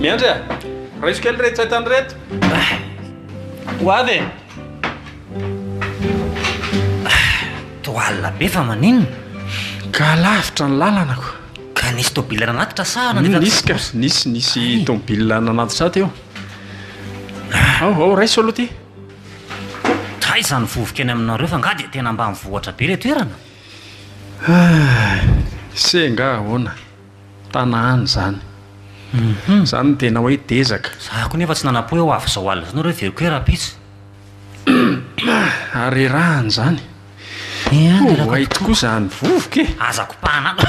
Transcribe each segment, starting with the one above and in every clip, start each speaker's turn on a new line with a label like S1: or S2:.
S1: Miandry a! Raiso kely ireto entana ireto.
S2: Ho avy e! Toa alina be fa maninona? Ka
S1: lavitra ny lalana ko. Ka nisy tômôbila
S2: nanatitra sa nandritra tato? Nisy ka, nisy,
S1: nisy tômôbila nanatitra ato eo. Ao, ao, raiso aloha ity.
S2: Taiza ny vovoka eny aminareo fa angaha dia tena ambanivohitra be ilay toerana?
S1: Senga ahoana? Tana any izany. Izany no tena hoe dezaka. Za koa nefa tsy nanam-po
S2: hoe ho avy izao alina izao nareo hiveriko hoe rahampitso.
S1: Ary rerahana izany. Ho hay tokoa izany vovoka e! Aza kopahana ato.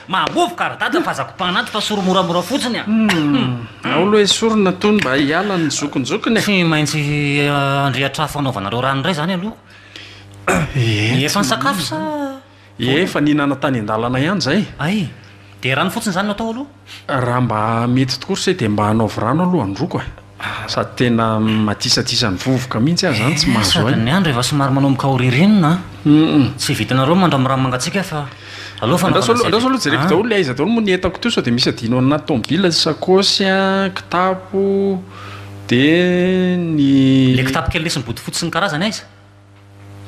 S2: Mahavovoka ry dada fa aza kopahana ato fa soro moramora fotsiny a! Ao
S1: loha esorina tony mba hiala ny zokinjokiny e! Tsy maintsy
S2: handrehitra afo hanaovanareo rano indray izany aloha. Ie efa nisakafo sa Ie efa
S1: nihinana tany an-dalana ihany izay? Ay! Dia
S2: rano fotsiny izany no atao aloha? Raha mba
S1: mety tokoa ry se dia mba anaovy rano aloha handroako e! Sady tena madisadisa ny vovoka mihitsy aho izany tsy mahazo aina. Sady ny andro efa somary
S2: manomboka ho ririnina an! Hum. Tsy vitanareo mandrambiramby mangatsiaka fa aleo fanaovana izay rehetra.
S1: Andraso aloha jereko daholo le aiza daholo moa ny entako teo sao dia misy adino anaty tomobil, sakaosy an, kitapo, Dia ny. Ilay kitapo kely nisy ny
S2: bodofotsy sy ny karazany aiza?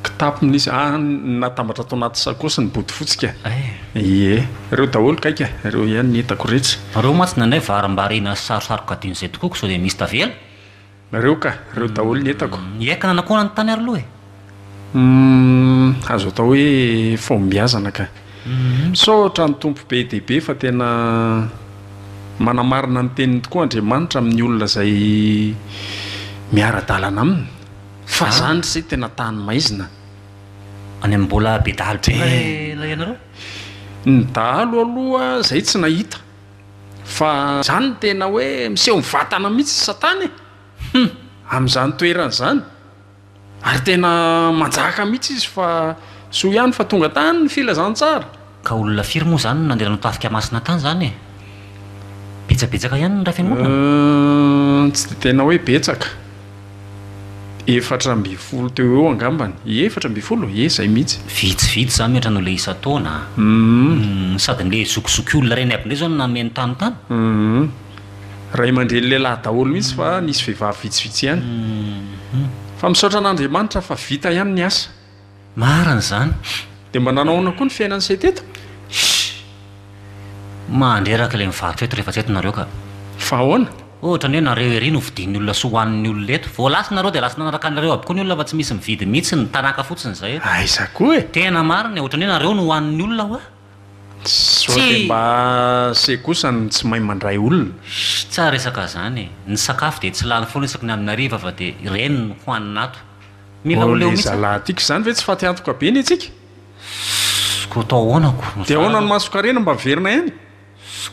S2: Kitapo
S1: nisy, ah, natambatra tao anaty sakaosy ny bodofotsy ka. Eh. Ie. Ireo daholo kay ka, ireo ihany no hitako retsy. Ireo mantsy ny anay
S2: varimbariana sy sarosaroka adino izay tokoa ko sao dia misy tavela. Ireo ka,
S1: ireo daholo no hitako. Ny Ekana nanao akona ny tany
S2: ary aloha e? Humm
S1: azo atao hoe fahombiazana ka. Misaotra ny Tompo be dia be fa tena manamarina ny teniny tokoa Andriamanitra amin'ny olona izay miara-dalana aminy fa ah! zany se tena tany maizina. Any amin'ny
S2: mbola be dahalo be va ilay anareo? Ny
S1: dahalo aloha zay tsy nahita fa zany no tena hoe miseho mivantana mihitsy satana e! Humm amin'izany toerana izany. Ary tena manjaka mihitsy izy fa soa ihany fa tonga tany ny filazantsara. Ka olona firy
S2: moa izany no nandeha nanao tafika masina tany izany e? Betsabetsaka ihany ny iray fiangonana? Hum, tsy dia tena hoe
S1: betsaka. Efatra ambin'ny folo teo ho eo angambany. Ie, efatra ambin'ny folo? Ie, izay mihitsy. Vitsivitsy izany mihoatra
S2: an'ilay isan-taona. Hum. Hum, sady ilay zokizokiolona reny aby indray izao no nanome ny tany tany? Hum.
S1: Ray aman-dreny lehilahy daholo mihitsy fa nisy vehivavy vitsivitsy ihany. Fa misaotra an'Andriamanitra fa vita ihany ny asa. Marina izany.
S2: Dia mba nanao ahoana
S1: koa ny fiainan'i Seth eto? Shh!
S2: Mandreraka ilay mivarotra eto rehefa tsy eto nareo ka. Fa ahoana?
S1: Ohatrany hoe nareo
S2: ery no vidian'ny olona sy hohanin'ny olona eto. Vao lasa nareo dia lasa nanaraka anareo aby koa ny olona fa tsy misy mividy mihitsy ny tanàka fotsiny izay. Aiza koa e! Tena
S1: marina e, ohatrany
S2: hoe nareo no hohanin'ny olona hoa. Sao
S1: de mba se kosa no tsy mahay mandray olona? Sh, tsara resaka
S2: zany e! Ny sakafo dia tsy lany foana isaky ny amin'ny hariva fa dia ireny no hohanina ato. Mila ho leo mihitsy an! Tiako izany ve tsy
S1: fatiantoka be ny antsika? Ss,
S2: koa atao ahoana ko? Dia ahoana ny masonkarena
S1: mba miverina ihany?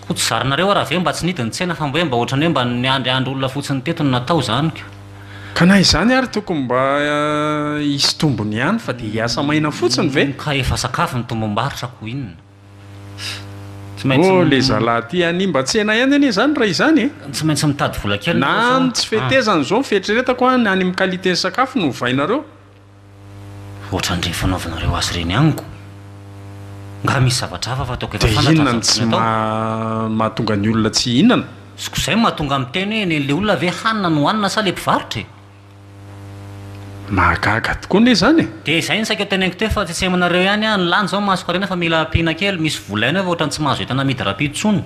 S1: Ko tsy
S2: zarinareo ara ve mba tsy nidy ny tsena fa hoe mba otrany hoe mba niandry andro olona fotsiny teto no natao zany ko. Ka na
S1: izany ary tokony mba hisy tombony ihany fa dia hiasa maina fotsiny ve? Ka efa sakafo ny
S2: tombom-barotra ko inona? Tsy maintsy. Oh
S1: le zalahy ty hanimba tsena ihany anie zany raha izany e! Tsy maintsy mitady vola
S2: kely nareo fa. Na ny tsy fetezana
S1: izao ny fieritreretako an, na ny amin'ny qualité ny sakafo no ovainareo.
S2: Ohatran'ireny fanaovanareo azy ireny amiko. Nga misy zavatra hafa fataoko efa fantatra ny zavatra tokony atao? Dia inona no
S1: tsy mahatonga ny olona tsy hihinana? Ko zay no mahatonga
S2: miteny hoe nen'le olona ve hanina no hanina sa le mpivarotra e?
S1: Mahagaga tokoa ne zany e! Dia izay no saika ho teneniko
S2: teo fa tsy asehimo anareo ihany aho, ny lany zao masoko harena fa mila ampiana kely, misy vola ihany eo fa ohatran'ny tsy mahazo entana amidy rapido tsony.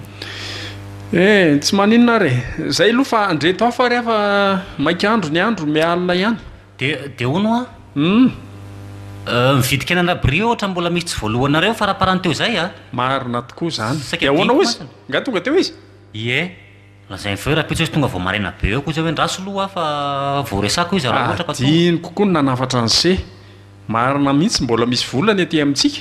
S2: Eh,
S1: tsy maninona ary e! Zay aloha fa andreto hafa ary aho fa maika andro ny andro miha alina ihany. Dia dia hono hoa
S2: humm. Euh mividy kena an'Rabria ohatra mbola misy tsy voaloanareo faraparany teo izay a! Marina tokoa
S1: izany. Saika Dia ahoana hoy izy? adinoko Nga tonga teo izy? Ie,
S2: lazainy feo rahampitso izy tonga vao maraina be eo koa izay hoe ndraso loha aho fa vao resako izy raha ohatra ka tonga. Adinoko koa ny
S1: nanafatra an'ise. Marina mihitsy mbola misy vola ny aty amintsika.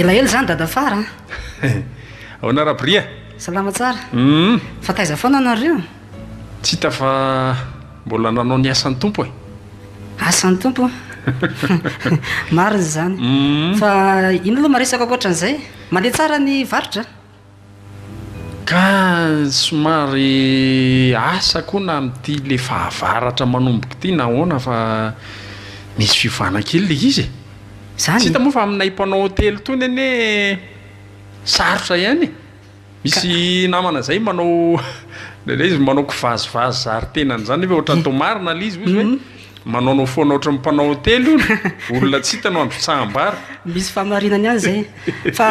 S3: elaela zany dada fara
S1: aona rabria salama tsara
S3: hmm. fa taiza foana anareo tsy hita
S1: fa mbola nanao ny asan'ny tompo e asan'ny
S3: tompo mariny zany hmm. fa ino aloha maresaka koatran'izay Mandeha tsara ny varotra a!
S1: Ka somary asa koa na amin'ity le fahavaratra manomboka ity na ahoana fa misy fiovana kely le izy e! Tsy hita moa
S3: fa aminay
S1: mpanao hotely tony anie sarotra ihany e! Misy namana izay manao indraindray izy manao kivazivazy zary tenany izany nefa ohatran'ny toa marina ilay izy, hoy izy hoe manaonao foana ohatran'ny mpanao hotely hono, olona tsy hita no androtsaham-bary. Misy fahamarinany
S3: ihany izay fa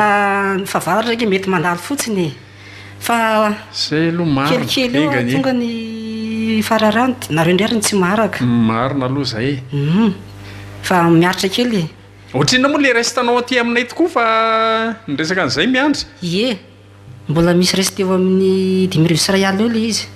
S3: ny fahavaratra ange mety mandalo fotsiny e! fa Izay aloha
S1: marina, kelikely eo enga anie. tonga ny
S3: fararano, dia nareo indray ary no tsy maharaka. Marina aloha izay e!
S1: Humm!
S3: Fa miaritra kely e! Ohatrinona moa le
S1: reste nao aty aminay tokoa fa ny resaka an'izay miandry. Ie,
S3: mbola misy reste eo amin'ny dimy arivo sy iray alina eo ilay izy.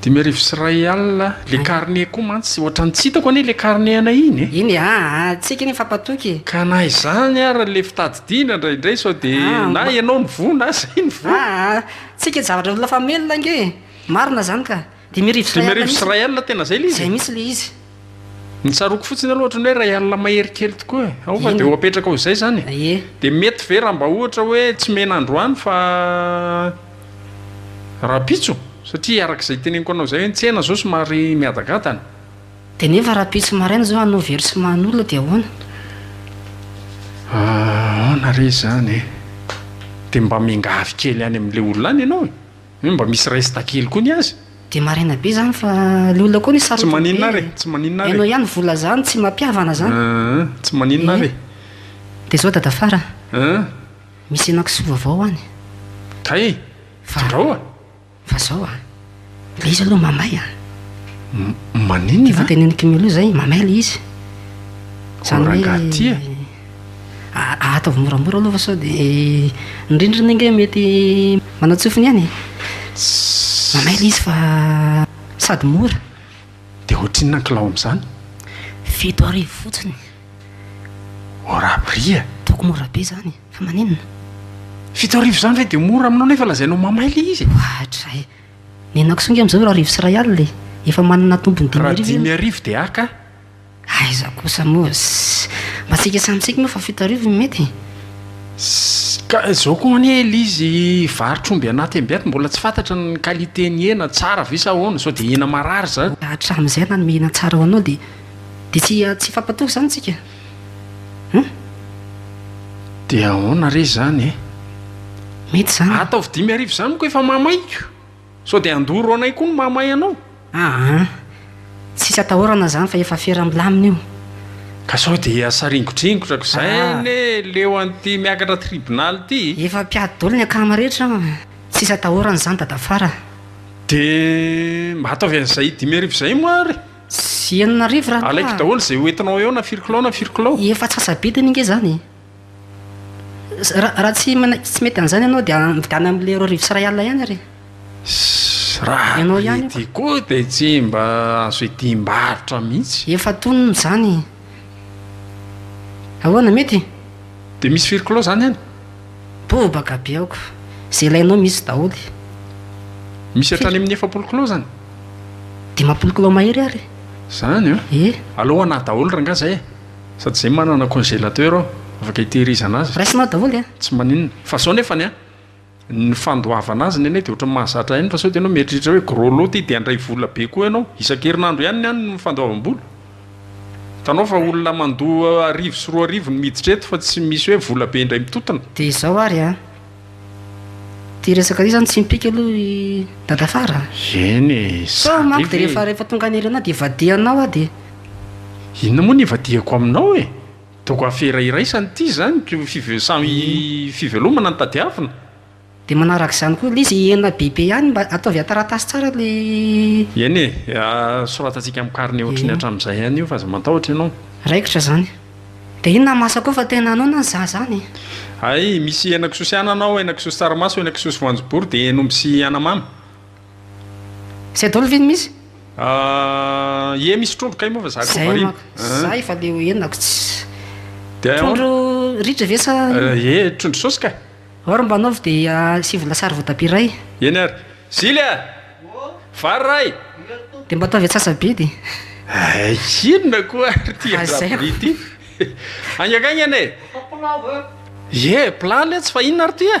S3: Dimy arivo sy
S1: iray alina, le carnet koa mantsy ohatran'ny tsy hitako anie le carnet anay iny e! Iny a! Hatsiaka iny fa
S3: patoky e! Ka na izany
S1: ary le fitadidiana indraindray sao dia na ianao no voa na izay no voa. Aa! Tsy eken'ny zavatra
S3: olona famelona ange e! Marina izany ka! Dimy arivo sy iray alina mihitsy. Dimy arivo sy iray alina tena zay le
S1: izy e? Zay mihitsy le izy.
S3: Ny tsaroako
S1: fotsiny aloha ohatran'ny hoe iray alina mahery kely tokoa e. Ao fa dia ho apetraka ho izay izany e. Ie. Dia mety ve raha mba ohatra hoe tsy mena androany fa rahampitso? Satria araka izay teneniko anao izay hoe ny tsena izao somary mihadagadana. Dia nefa
S3: rahampitso maraina izao hanao versement an'olona dia ahoana?
S1: Aona re izany e? Dia mba miangavy kely any amin'ilay olona any ianao e. Hoe mba misy resta kely koa ny azy? Dia marina be
S3: zany fa le olona koa anie sarotiny be e. Tsy maninona ary e, tsy
S1: maninona ary e. Enao ihany vola zany tsy
S3: mampiavana zany. Ahh, tsy maninona
S1: ary e. Dia zao
S3: dada Fara a, misy henakisoa vaovao ho any. Kay
S1: e, dindrao a. Fa zao
S3: a, le izy aloha mamay a.
S1: Maninona a. Efa tenenin'i
S3: Kimelo zay, mamay le izy. Zany hoe. Koa rangahy ty a. Ataovy moramora aloha fa sao dia ny rindrina ange mety manantsofina ihany e. Manay ilay izy fa sady mora. Dia ohatrinona
S1: ny kilao amin'izany? Fito
S3: arivo fotsiny. Au ras prix
S1: e! Ataoko mora be izany
S3: e, fa maninona? Fito arivo
S1: izany ve dia mora aminao nefa lazainao mamay ilay izy e? Ohatra e!
S3: Ny henakisoa ange amin'izao eo arivo sy iray alina e! Efa manana tombony dimy arivo eo. Raha dimy arivo dia haka
S1: a! Aiza
S3: kosa moa zzs. Mba tsika samy tsika moa fa fito arivo no mety e. Zzs,
S1: ka zao koa anie ilay izy varotr'omby anaty ambiaty mbola tsy fantatra ny qualité ny hena, tsara ve sa ahoana, sao dia hena marary zany. Hatramin'izay ianao hanome hena
S3: tsara ho anao dia dia tsy tsy hifampatoky izany tsika eh.
S1: Dia ahoana re izany eh.
S3: Mety izany. Ataovy dimy arivo izany moa
S1: ka efa mahamaika. Sao dia handoro anay koa ny mahamay anao? Aa! Tsisy
S3: atahorana izany fa efa fera milamina io. Ka sao
S1: dia saringodringotrako izay anie leo an'ity miakatra tribunal ity? Efa mpiady daholo ny
S3: akama rehetra an! Tsisy atahorana izany dadafara. Dia
S1: mba ataovy an'izay dimy arivo izay moa ary? Tsy enina
S3: arivo raha toa. Alaiko daholo izay hoentinao
S1: eo na firy kilao na firy kilao. Efa antsasa-bidiny ange
S3: izany e! Raha tsy manaiky tsy mety an'izany ianao dia mividiana amin'ilay roa arivo sy iray alina ihany ary e!
S1: Raha prix-ty koa dia tsy mba azo idim-barotra mihitsy! Efa tonony izany
S3: e! Ahoana, mety? Dia misy firy
S1: kilao izany any? Bobaka
S3: be aoko! Izay ilainao misy daholo.
S1: Misy hatrany amin'ny efapolo kilao izany? Dimampolo
S3: kilao mahery ary e! Izany an! Ie!
S1: Aleo ho anà daholo rangahy izay e! Sady izay manana congélateur ao, afaka hitehirizana azy. Raisinao daholo e. Tsy
S3: maninona. Fa zao
S1: nefany an, ny fandoavana azy ny anay dia ohatran'ny mahazatra ihany fa sao dia ianao mieritreritra hoe gros lot ity dia handray vola be koa ianao. Isan-kerinandro ihany ny any ny fandoavam-bola. Hitanao fa olona mandoa arivo sy roa arivo no miditra eto fa tsy misy hoe vola be indray mitotona. Dia
S3: izao
S1: ary an. Ity
S3: resaka ity zany tsy mipika aloha i Dadafara a! Eny e!
S1: Sao manko dia rehefa
S3: rehefa tonga any Irina dia ivadihanao aho dia. Inona
S1: moa no ivadihako aminao e! Toaka afera iraisana ity zany ko five samy fivelomana no tadiavina. Dia manaraka
S3: izany koa ilay izy hihena bebe ihany mba ataovy an-taratasy tsara ilay. Eny
S1: e! Soratantsika amin'ny carnet ohatry ny hatramin'izay ihany io fa aza matahotra ianao. Raikitra izany.
S3: Dia inona ny mahasakoa fa tena noana ny zaza any e? Hay, misy
S1: henakisoa sy anana ao, henakisoa sy tsaramaso, henakisoa sy voanjobory, dia henomby sy anamamy.
S3: Izay daholo ve no misy? Ah,
S1: ie misy trondro kay moa fa za koa variana. Izay manko, za efa leo
S3: henako tsy. Trondro ritra ve sa inona? Ie, trondro saosy
S1: ka. Or mba anaovy dia
S3: asivo lasary voatabia iray. Eny ary.
S1: Zily a! Vary ray! Dia mba ataovy
S3: antsasa-bidy e!
S1: Inona koa ary ity an-dRabri ity? Haingankaingana e! Ie, plat letsy fa inona ary ity e?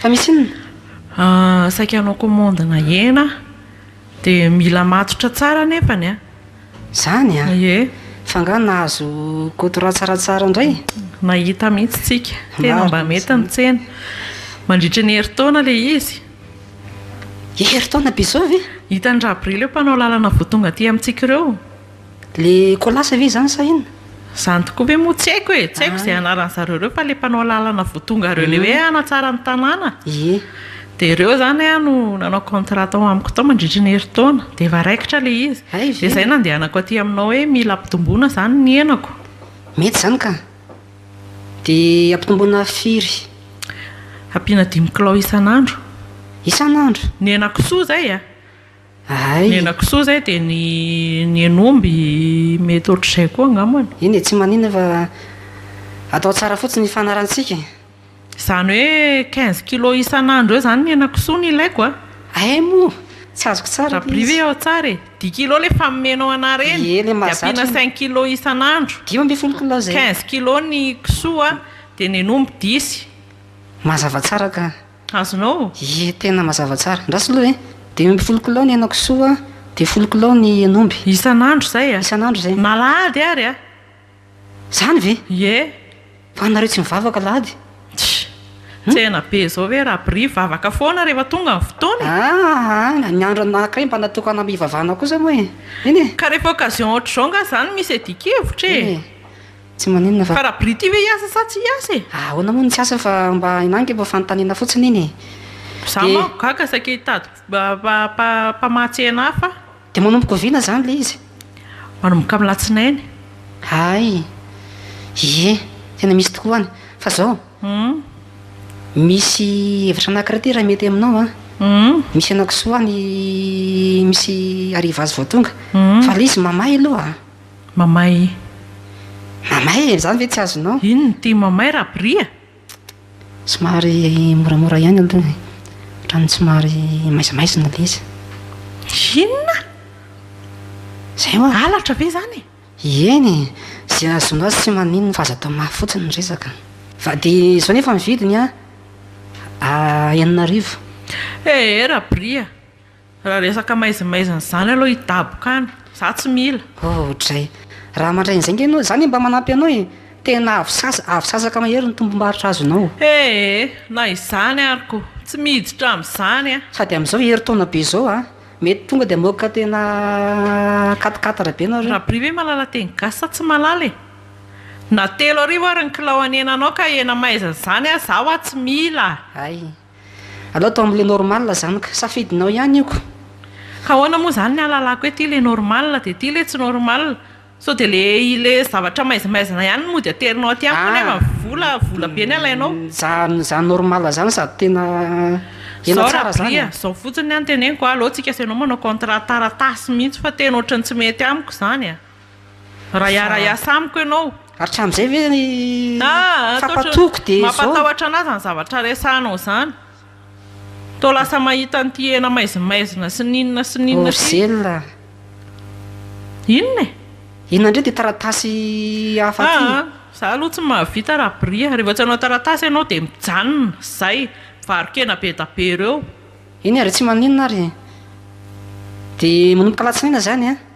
S4: Fa misy
S3: inona? Ahh saika hanao commande
S4: na hena aho de mila matotra tsara nefany an! Zany an!
S3: Ie! Fa nga
S4: nahazo
S3: koto ratsaratsara ndray? Nahita mihitsy
S4: tsika! Tena mba mety ny tsena! Mandritry ny herintaona le izy!
S3: Herintaona bizovy? Hitan'i Rabrily eo mpanao
S4: lalana voa tonga aty amintsika ireo! Le
S3: kolasa ve izany sa inona? Izany tokoa ve
S4: moa tsy haiko e! Tsy haiko izay anaran'ny zareo ireo fa le mpanao lalana vao tonga ireo le hoe hanatsara ny tanàna Ie. Dia ireo izany aho no nanao contrat tao amiko tao mandritry ny herintaona dia efa raikitra ilay izy. Hay ve? Dia izay nandehanako aty aminao hoe mila ampitomboina izany ny henako. Mety izany ka!
S3: Dia ampitomboina firy?
S4: Ampiana dimy kilao isan'andro. Isan'andro? Ny henakisoa izay a! Ny henakisoa izay dia ny hen'omby mety ohatr'izay koa angambany. Eny e, tsy maninona fa
S3: atao tsara fotsiny ny fanarantsika e. Izany
S4: hoe quinze kilos isan'andro eo izany ny henakisoa no ilaiko a? Hay moa,
S3: tsy azoko tsara ilay izy. Rabria ve ao tsara e?
S4: Dix kilos ilay efa nomenao anah ireny, dia ampiana cinq kilos isan'andro, quinze
S3: kilos ny
S4: kisoa dia ny hen'omby dix. Mazava
S3: tsara ka. Azonao?
S4: Ie tena mazava
S3: tsara. Andraso aloha e! Dimy amby folo kilao ny henakisoa dia folo kilao ny hen'omby. Isan'andro izay a!
S4: Isan'andro izay. Na alahady
S3: ary a!
S4: Izany
S3: ve? Ie! Fa anareo tsy mivavaka alahady? Tch!
S4: Tsena be izao ve Rabria vavaka foana rehefa tonga ny fotoana e! Aa! Aa! Ny andro anankiray
S3: mba natokana am hivavahana kosa moa e! Eny e! Ka rehefa occasion ohatr'izao
S4: angaha izany misy adin-kevitra e! Eny e! Tsy maninona
S3: fa. Fa rabrity ve hiasa
S4: sa tsy hiasa e? Ahoana moa no tsy hiasa fa
S3: mba enangy mba fanontaniana fotsiny iny e! Za manko
S4: gaga saika hitady mpamatsy hena hafa. Dia manomboka oviana
S3: izany ilay izy? Manomboka amin'ny
S4: latsinainy. Hay!
S3: Ie, tena misy tokoa any. Fa izao, misy hevitra anankiray ity raha mety aminao an! Misy henakisoa any misy Arrivas vao tonga, fa ilay izy mamay aloha a! Mamay. Mamay e! Izany ve tsy azonao? Inona ity mamay
S4: Rabry a? Somary
S3: moramora ihany aloha e. Ohatran'ny somary maizamaizina ilay izy. Inona? Izay hoa. Halatra ve izany
S4: e? Eny e!
S3: Izay azonao azy tsy maninona fa aza atao mafy fotsiny ny resaka. Fa dia izao nefa ny vidiny a! Enina arivo. Ee
S4: Rabry a! Raha resaka maizimaizina izany aloha hidaboka any. Za tsy mila. Oodray.
S3: Raha mandray an'izay nge ianao, za nge mba manampy anao e! Tena avo sasa, avo sasaka mahery ny tombom-barotra azonao. Ee, na
S4: izany ary ko, tsy miditra amin'izany an! Sady amin'izao herintaona
S3: be izao an! Mety tonga dia mamoaka tena quatre quatre be nareo. Rabri ve malala teny
S4: gasy sa tsy malala e? Na telo arivo ary ny kilao an'henanao ka hena maizina izany an, za hoa tsy mila! Hay.
S3: Alao atao amle normal zany ka. Safidinao ihany io ko. Ka ahoana
S4: moa izany ny ahalalako hoe ity ilay normal dia ity ilay tsy normal? Sao dia ilay ilay zavatra maizimaizina ihany no mody aterinao aty amiko nefa vola vola be ny alainao? Zany zany normal
S3: zany sady tena tena
S4: tsara zany. Zao Rabria, zao fotsiny ny teneniko a, aleo tsika sy ianao manao contrat taratasy mihitsy fa tena ohatran'ny tsy mety amiko zany a. Raha hiara-hiasa amiko ianao. Hatramin'izay
S3: ve ny fampatoako dia izao. Mampatahotra anà izany zavatra
S4: resahanao izany. Toa lasa mahita an'ity hena maizimaizina sy ny inona sy ny inona ity. Ozela. Inona e? Inona indray ity
S3: taratasy hafa ity? Aa, izaho aloha tsy mahavita
S4: Rabria. Rehefa tsy hanao taratasy ianao dia mijanona, izay, mivaro-kena be da be ireo. Eny ary, tsy
S3: maninona ary. Dia manomboka alatsinainy izany an.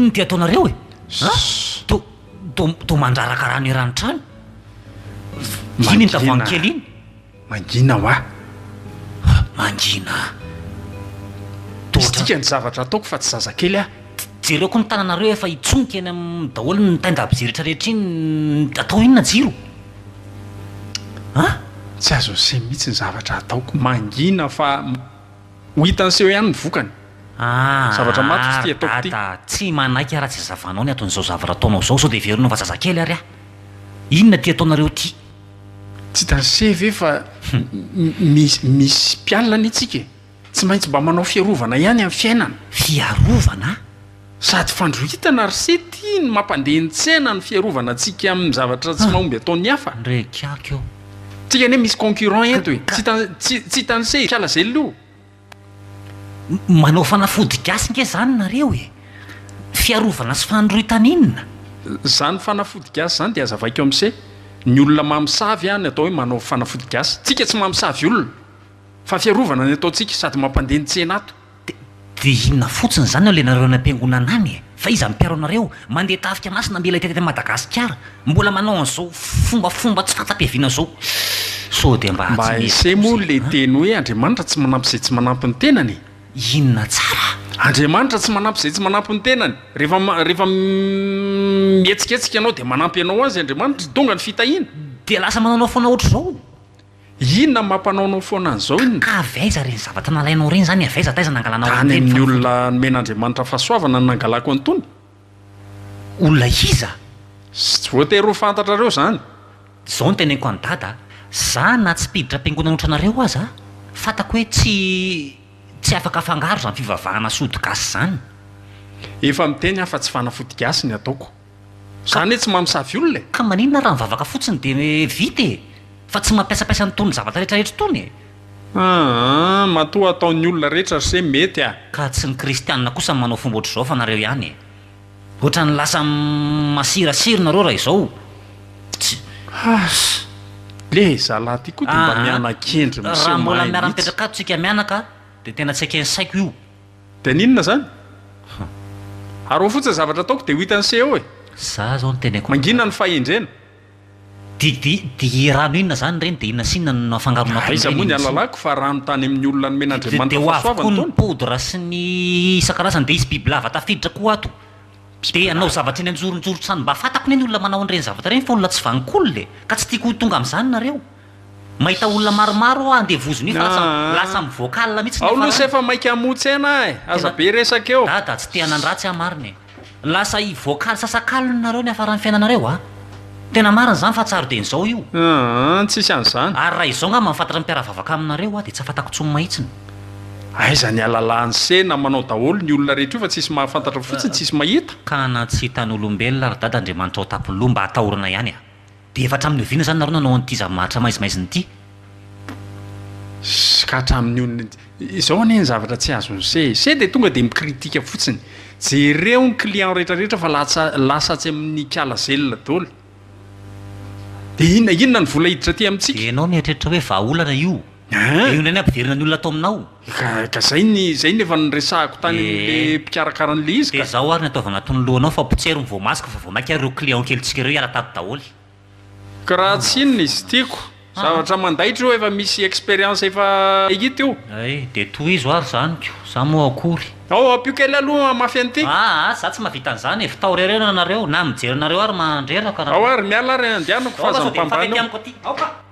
S2: inona ty ataonareo e to to to mandraraka rano eran'ny trano iny ny tavoahangy kely iny Mangina hoa! Mangina!
S1: Misy dikany zavatra ataoko fa tsy zazakely aho! Jereo koa ny tananareo
S2: efa hitsonika eny aminy daholo ny tenda mpijelitra rehetra iny, atao inona jiro?
S1: An? Tsy azo aseho mihitsy ny zavatra ataoko! Mangina fa ho hitan'ny seho ihany ny vokany! Zavatra matotra ity ataoko ity! Dada, tsy manaiky aho raha tsy
S2: azavanao ny aton'izao zavatra ataonao izao, sao dia heverinao fa zazakely ary aho! Inona ity ataonareo ity? Tsy
S1: danse ve fa misy mpialona anie tsika e! Tsy maintsy mba manao fiarovana ihany amin'ny fiainana. Fiarovana?
S2: Sady
S1: fandrohitana ry se ty ny mampandeha ny tsena ny fiarovana antsika amin'ny zavatra tsy mahomby ataon'ny hafa. Ndreky aky eo.
S2: Tsika anie misy
S1: concurrent eto e! Tsy hitan'i se hiala zella io. Manao
S2: fanafody gasy nge zany nareo e! Fiarovana sy fanoroitan inona? Zany
S1: fanafody gasy zany de azavaiko amse ny olona mamosavy a ny atao hoe manao fanafody gasy tsika tsy mamosavy olona fa fiarovana ny ataontsika sady mampandeha ny tsena ato. De inona
S2: fotsiny zany ao le nareo any ampiangonana any e? Fa iza mpiaro anareo? Mandeha tafika masina mila hita teto Madagasikara? Mbola manao an'izao fombafomba tsy fahatsapiaviana zao? Sao dia mba tsy mety Ese moa le
S1: teny hoe Andriamanitra tsy manampy izay tsy manampy ny tenany e! Inona tsara?
S2: Andriamanitra tsy manampy
S1: izay tsy manampy ny tenany. Rehefa rehefa mihetsiketsika ianao dia manampy anao azy Andriamanitra. Tonga ny fitahiana. Dia lasa manao
S2: foana ohatr'izao. Inona
S1: no mampanaonao foana an'izao inona? Ka avy aiza ireny zavatra
S2: nalainao ireny izany? Avy aiza, taiza nangalanao an'ireny fanafody? Tany amin'ny olona
S1: nomen'Andriamanitra fahasoavana no nangalako an'itony.
S2: Olona iza? Tsy voatery
S1: ho fantatrareo izany. Izao no
S2: teneniko an'i Dada, Za na tsy mpiditra am-piangonana ohatranareo aza, fantako hoe tsy tsy afaka afangaro izany fivavahana sody gasy izany. Efa
S1: miteny aho fa tsy fanafody gasy ny ataoko. Zany hoe tsy mamosavy olona e! Ka maninona raha mivavaka
S2: fotsiny dia vita e! Fa tsy mampiasapaiasa an'itony zavatra rehetra rehetra itony e! Aa
S1: matoa ataon'ny olona rehetra ry se mety a! Ka tsy ny kristianina
S2: kosa no manao fomba ohatr'izao fa nareo ihany e! Ohatran'ny lasa masirasiry nareo raha izao! Tsy. Has!
S1: Le zalahy ty koa dia mba miana-kendry miseho mahay mihitsy! Raha mbola
S2: miara-mipetraka ato tsika mianaka dia tena tsy eken'ny saiko io! Dia ny inona
S1: izany? Hum. Ary ho fotsiny zavatra ataoko dia ho hitan'ny CEO e! Za zao ny teneko
S2: aminao. Mangina ny fahendrena.
S1: Dia dia dia
S2: rano inona zany ireny dia inona sy inona no afangaronao tao ireny? Aiza moa ny ahalalako fa
S1: rano tany amin'ny olona nomen'Andriamanitra fahasoavana itony? Dia ho avy koa ny poudre sy
S2: ny isan-karazany dia hisy bibilava tafiditra koa ato. Dia hanao zavatra eny anjoronjoron-trano mba fantako anie ny olona manao an'ireny zavatra ireny fa olona tsy vanon-kolona e! Ka tsy tiako ho tonga amin'izany nareo. Mahita olona maromaro aho handeha vozona io fa lasa lasa amin'ny vocal mihitsy ny farany. Ao louse efa maika
S1: hamontsaina ahy, aza be resaka eo. Dada tsy te hanan dratsy aho
S2: marina e. Lasa i vocal sasakalony nareo ny hafaran'ny fiainanareo a. Tena marina izany fa tsy aroden'izao io. Aah tsisy an'izany.
S1: Ary raha izao ngamba mifantatra
S2: mpiaravavaka aminareo aho dia tsy afatako tsony mahitsiny. Aiza
S1: ny alalahan'i se na manao daholo ny olona rehetra io fa tsisy mahafantatra fotsiny tsisy mahita. Ka na tsy
S2: hitan'olombelona ary dada Andriamanitra ao Tapoloha mba atahorana ihany a. Dia efa hatramin'ny oviana izany nareo nanao an'ity zava-maharitra maizimaizina ity?
S1: Sy ka hatramin'ny ony ny. Izao anie ny zavatra tsy azon'i se e. Se dia tonga dia mi-critique fotsiny. Jereo ny client rehetrarehetra fa latsa, lasa atsy amin'ny kiala zelina daholo. Dia inona, inona ny vola hiditra aty amintsika? Ianao mieritreritra hoe
S2: vahaolana io? Dia io indray ny hampidirina ny olona ato aminao. Ka, ka zay ny,
S1: zay ny efa niresahako tany amin'ilay mpikarakara an'ilay izy ka. Dia zao ary ny ataovy anatin'ny
S2: lohanao fa potsero ny voamaska fa vao mainka ary ireo clients kelintsika ireo hiala
S1: tato
S2: daholo. Ka raha
S1: tsy
S2: inona izy
S1: tiako, zavatra mandaitra io efa misy expérience efa hita io. Ay, dia tohizo
S2: ary zany ko, za moa akory. Ao, ampio kely aloha
S1: hamafy an'ity. Aa, za tsy mahavita
S2: an'izany e, f'tao rereo ianareo, na mijery anareo ary mandreraka. Ao ary, miala ary
S1: andianako fa aza mifambana eo. Aoka!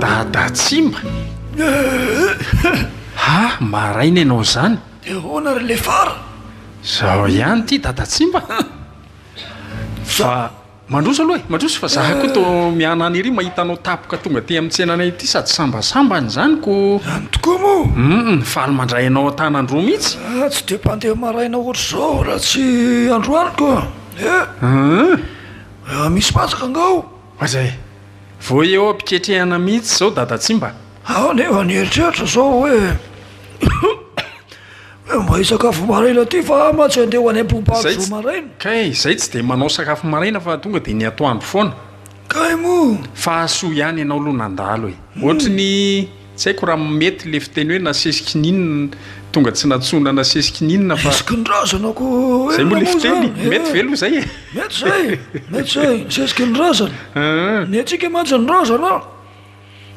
S1: Dada Tsimba? Ha! Maraina ianao izany? Dia ahoana ry
S5: Lefara? Izao
S1: ihany ity Dada Tsimba a! Fa mandroso aloha e, mandroso fa za koa toa mianany ery mahita anao tapoka tonga aty amin'ny tsenanay ity sady sambasambany izany ko! Any tokoa moa?
S5: Hum, faly mandray anao
S1: an-tanan-droa mihitsy! Ah, tsy dia mpandeha
S5: maraina ohatr'izao aho raha tsy androany ko! Eh! Hum! Misy patsaka angaha ao? Aza e!
S1: Vao eo am-piketrehana mihitsy izao Dadatsimba! Aho anefa
S5: nieritreritra izao hoe hoe mba hisakafo maraina aty fa aho mantsy handeha ho any am-pohompahako izao maraina. Kay izay tsy dia manao
S1: sakafo maraina fa tonga dia ny atoandro foana. Kay moa!
S5: Fa soa ihany
S1: ianao aloha nandalo e! Ohatry ny. Tsy haiko raha mety le fiteny hoe nasesy kininina tonga tsy nantsoina nasesy kininina fa. Nasesy kinin-drazana ko inona moa
S5: zany e? Zay moa le fiteny e,
S1: mety ve aloha zay e? Mety zay, mety
S5: zay, nasesy kinin-drazana. Ny antsika mantsy ny razana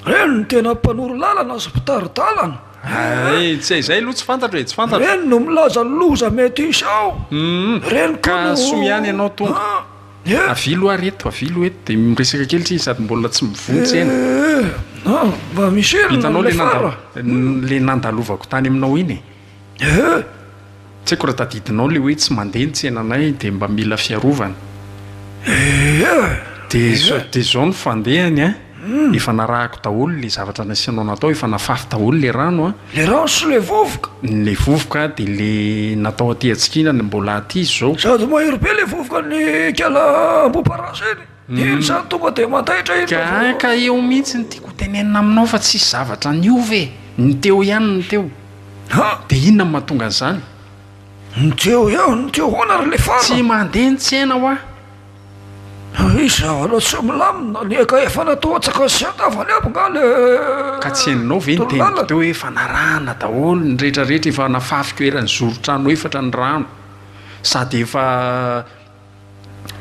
S5: reny no tena mpanoro lalana sy mpitari-dalana. Hay, tsy
S1: hay zay aloha tsy fantatro e, tsy fantatro. Reny no milaza ny
S5: loza mety hisy ao, reny koa no. Ka soa ihany
S1: ianao Tompoko. Avilo ary eto, avilo eto dia miresaka kely tsiny sady mbola tsy mivontsena.
S5: Mba misy heriny Hitanao le amin'ilay
S1: fara. nanda-
S5: le
S1: nandalovako tany aminao iny e. Tsy haiko raha tadidinao le hoe tsy mandeha ny tsenanay dia mba mila fiarovana. Dia izao dia izao ny fandehany a. Efa narahako daholo le zavatra nasianao natao efa nafafy daholo le rano a. Le rano sy le
S5: vovoka? Le vovoka
S1: de le natao aty atsikina le mbola aty izy zao. Sady mahery be le
S5: vovoka ny kala amboparasa iny de iny zany tonga de mandaitra iny vao. Ka ka eo mihitsy ny
S1: tiako hotenenina aminao fa tsisy zavatra niova e, ny teo ihany ny teo. Ha? De inona no mahatonga an'izany? Ny
S5: teo ihany ny teo hoana ry lefana? Tsy mandeha ny tsena
S1: hoa.
S5: Ary iza aloha tsy milamina, ny eka efa natao atsaka sy an-tavany aby nga le Ka tsy henonao
S1: ve ny teniko teo hoe fanarahana daholo ny rehetra rehetra efa nafafiko eran'ny zoron-trano efatra ny rano sady efa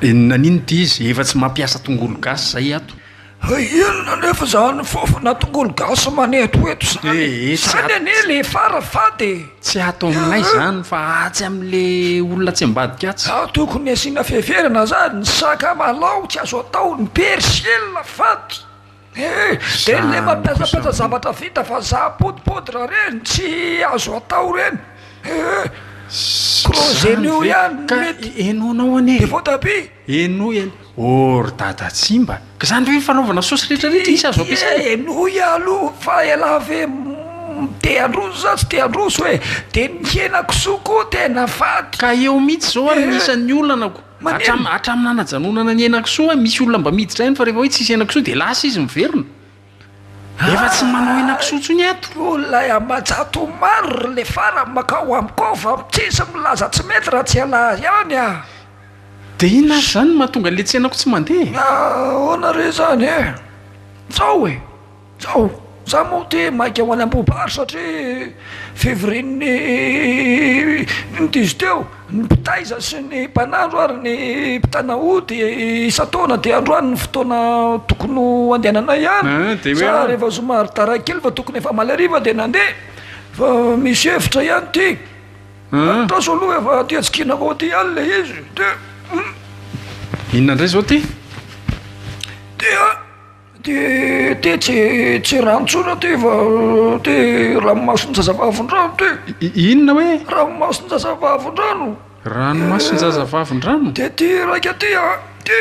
S1: nanino ity izy efa tsy mampiasa tongolo gasy zay ato. Inona
S5: anefa izany fofona tongolo gasy manetoeto izany e? Izany anie le fara fady e! Tsy ato aminay
S1: izany fa atsy amin'le olona tsy ambadika atsy. Ao tokony asiana
S5: fiheverana zany, ny sakamalaho tsy azo atao, ny persil fady e, de le mampiasampiasa zavatra vita vazaha poudre poudre reny tsy azo atao reny e, crozet-nio ihany no mety, de
S1: voatabia.
S5: Henoy an!
S1: Oh ry dada tsy mba ka izany ve ny fanaovana sosy rehetra rehetra isa azo ampiasaina? Henoy aloha
S5: fa ialahy ve te handroso sa tsy te handroso e! de ny henakisoa koa tena fady! Ka eo mihitsy izao
S1: ary ny isan'ny olana ko! Hatramin'ny nanajanonana ny henakisoa aho misy olona mba miditra any fa rehefa hoe tsisy henakisoa dia lasa izy miverina! Efa tsy manao henakisoa intsony ato. Hoy ilay Ambajato
S5: Omar, Ry Lefara, makao amiko ao fa tsisy milaza tsy mety raha tsy ialahy ihany aho.
S1: Dia inona ary izany no mahatonga an'ilay tsenako tsy mandeha e? Ahoana re
S5: izany e? Izao e, izao, izaho moa te maika ho any Ambohibary satria fivorian'ny diso teo. Ny mpitaiza sy ny mpanandro ary ny mpitana ody isan-taona dia androany ny fotoana tokony ho andehananay ihany sa rehefa zoma ary tara kely fa tokony efa hamaly hariva dia nandeha fa misy hevitra ihany ity andraso aloha efa aty atsikina avao aty ihany ilay izy dia
S1: inona indray izao ity dia
S5: Te te tsy tsy rano tsona te fa te ranomason-jazavavindrano te. Inona hoe?
S1: Ranomason-jazavavindrano.
S5: Ranomason-jazavavindrano?
S1: Te te raika te
S5: a te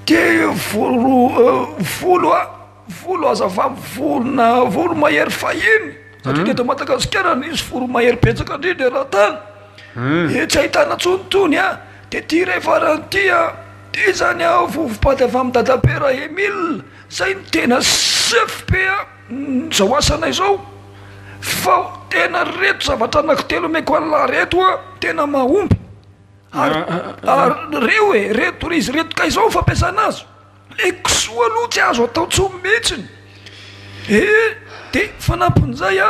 S5: te volo volo a volo aza vam vorona voromahery fahiny satria teto Madagasikara nisy voromahery betsaka indrindra eran-tany. Ee tsy ahitana tsony tony a! De ty re farany ty a! Ty zany a vovo-paty avy amin'i Dadabe Ra-Emile zay no tena chef be a! zao asanay zao! fa tena reto zavatra anako telo omeko an'lah reto a! tena mahomby! ary ary reo e! reto izy reto kay zao fampiasana azy! le kisoa aloha tsy azo atao tsony mihitsiny ee! de fanampin'izay a!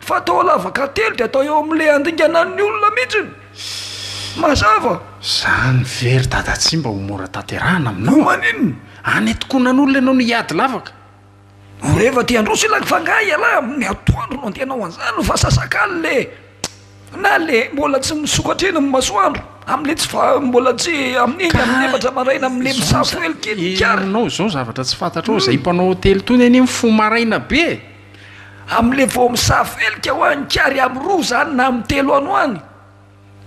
S5: Fa atao lavaka telo de atao eo amle andingana ny olona mihitsy ny mazava. Zany
S1: ve ry dada tsy mba ho mora tanterahana aminao? Ho maninona? Any
S5: atokonan'olona
S1: ianao no hiady lavaka? Ho rehefa
S5: te handroso ilay fa nga ialahy amin'ny atoandro no andehanao an'zany no fa sasak'alina e! na le mbola tsy misokatra eny amin'ny masoandro amle tsy fa mbola tsy amin'iny amin'ny efatra maraina amle misafo hely kely ny kary. Enao izao
S1: zavatra tsy fantatrao izay mpanao hotely tony anie mifoha maraina be e! Amle
S5: vao misafelika hoa ny kary am roa zany na am telo ano any.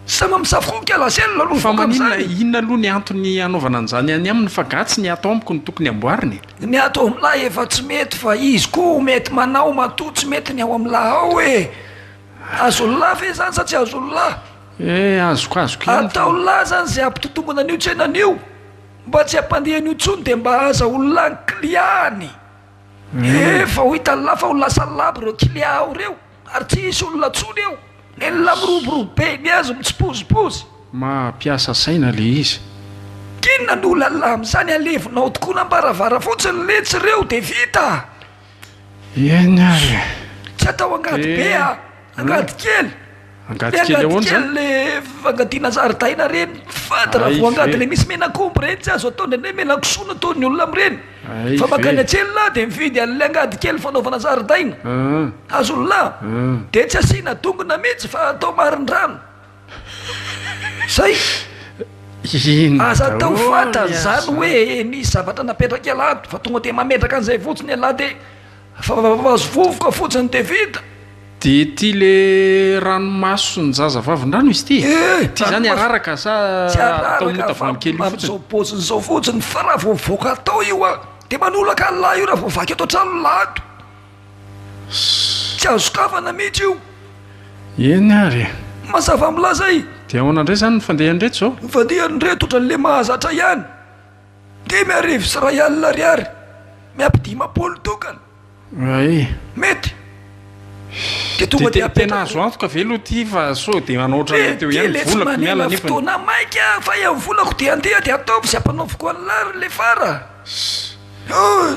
S5: Sama misafoka la selle aloha Fa vokany maninona zany. inona
S1: aloha ny antony anaovana an'izany any aminy fa ga tsy ny ato amiko no tokony amboarina e. Ny ato am la
S5: efa tsy mety fa izy koa ho mety manao matoa tsy mety ny ao am la ao e. Azon la ve zany sa tsy azon la. Eh azoko azoko ihany
S1: fa. Ataon la zany
S5: ze ampitotombona an'io tsena an'io mba tsy ampandeha an'io tsony de mba aza olona an kiliany. Efa ho hitan'i Lahy fa ho lasa labo ireo klia ao ireo ary tsy hisy olona tsony eo. Ny Lahy miroborobo be, ny azy mitsipozipozy. Maha mpiasa
S1: saina le izy. Inona no
S5: lalà amin'izany alevinao tokoa nambaravara fotsiny letsy ireo de vita a!
S1: Eny ary e! Tsy atao
S5: angady be a! Angady kely! Angady kely ahoana zany? Angady kely le fangadiana zaridaina reny fady raha vao angady le misy menak'omby reny tsy azo atao indraindray melakisoa no ataon'ny olona amin'ireny fa makany an-tselina dia mividy an'ilay angady kely fanaovana zaridaina hazolona dia tsy asiana dongona mihitsy fa atao marindrano zay aza atao fantany zany hoe misy zavatra napetraka ialahy fa tonga dia mametraka an'izay fotsiny ialahy dia Fa vavazo vovoka fotsiny de vita. De ty
S1: le ranomason jaza vavindrano izy ty? Eh! Ty zany araraka sa atao mota vany kely io fotsiny? Amzao poziny zao
S5: fotsiny fa ra vao mivoaka atao io a de manolaka an lahy io ra vao vaky eto antrano lahy ato. Tsy azo sokafana mitsy io. Eny
S1: ary e. Mazava milaza
S5: e. De ahoana ndray zany ny
S1: fandehany reto zao? Ny fandehany reto otranle
S5: mahazatra ihany. Dimy arivo sy iray alina ariary miampy dimampolo tokana. Ay. Mety. Dia tonga dia apetraka. Tena azo antoka ve aloha
S1: ity fa sao dia manao ohatran'ny teo ihany, volako miala nefany. Dia letsy manila fotoana
S5: maika fa eo volako dia andeha dia ataovy izay ampanaoviko an'lah ry lefara.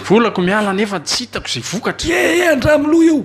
S1: Volako miala nefa tsy hitako izay vokatra. Ie ie an-dRamoloha io.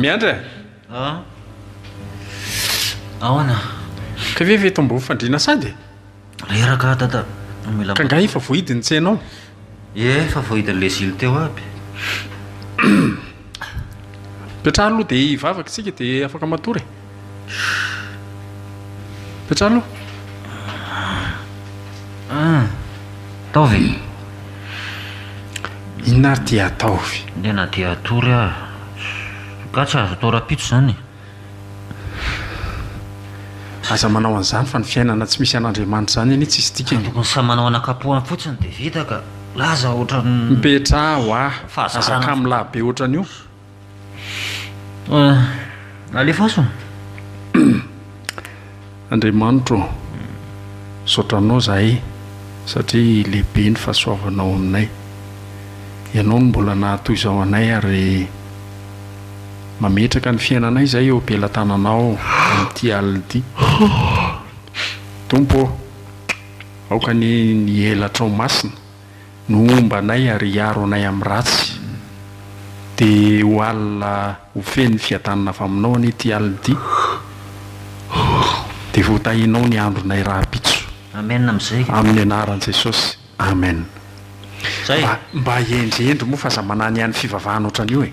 S2: Miandry a! Aona?
S1: Ka ve eto ambony fandriana sady e? Reraka
S2: dada, mila. Ka nga efa
S1: voahidy ny tsena ao? Ie, efa
S2: voahidin'ny lezily teo aby.
S1: Petraha aloha dia hivavaka isika dia afaka matory e. Fa tsara aloha.
S2: Ah, ataovy e!
S1: Inona ary ity ataovy? Ndeha na dia hatory
S2: aza. Angaha tsy azo atao rahampitso izany e!
S1: Aza manao an'izany fa ny fiainana tsy misy an'Andriamanitra izany anie tsisy dikany. Tokony samy manao an'ankapoany
S2: fotsiny dia vita ka! Laza ohatran'ny. Mipetraha ho ahy!
S1: Aza kamo lahy be ohatran'io!
S2: Alefaso.
S1: Andriamanitra ô, misaotra Anao izahay satria lehibe ny fahasoavanao aminay. Ianao no mbola nahatoy izao anay ary mametraka ny fiainanay izahay eo am-pelatananao amin'ity alina ity. Tompo ô, aoka anie ny elatrao masina. no homba anay ary hiaro anay amin'ny ratsy. Dia ho alina ho feno fiadanana avy Aminao anie ity alina ity, dia hotahinao ny andronay rahampitso. Amen amin'izay.
S2: Amin'ny anaran'i Jesosy,
S1: amen. Zay.
S2: Mba mba hendry
S1: hendry moa fa aza mananihany fivavahana ohatran'io e.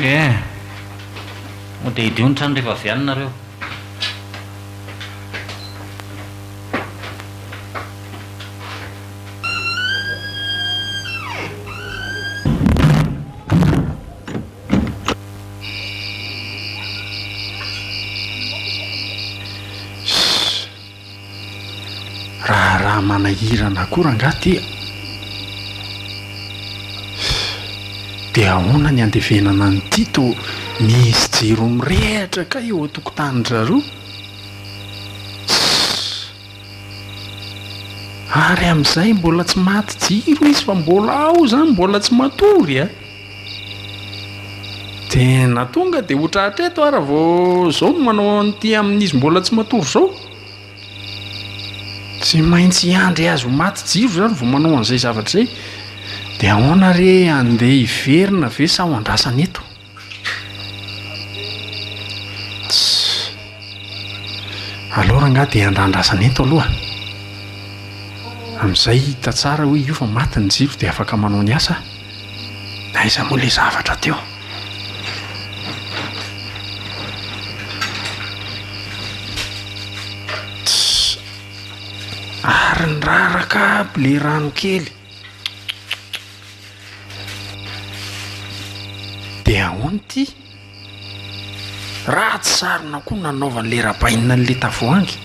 S1: Ee,
S2: moa dia hidio ny trano rehefa avy any nareo.
S1: Raharaha manahirana akory angaha ity a! Dia ahoana ny andevenana an'i Tito? Misy jiro mirehatra kay eo an-tokotanin-dRareo? Tss! Ary amin'izay mbola tsy maty jiro izy fa mbola ao izany, mbola tsy matory a! De na tonga de hotra hatreto ara vao zao no manao an'ity amin'izy mbola tsy matory zao? Tsy maintsy hiandry azy ho maty jiro zany vao manao an'izay zavatra izay? De ahoana re andeha hiverina ve sa ho andrasana eto? Aleo rangaha de andrandrasana eto aloha amizay hita tsara hoe io fa maty ny jiro de afaka manao ny asa ah. Aiza moa le zavatra teo? Ary ny raraka aby le rano kely. De ahoana ity? Ratsy sarona koa nanaovan'le rabainina an'le tavoahangy.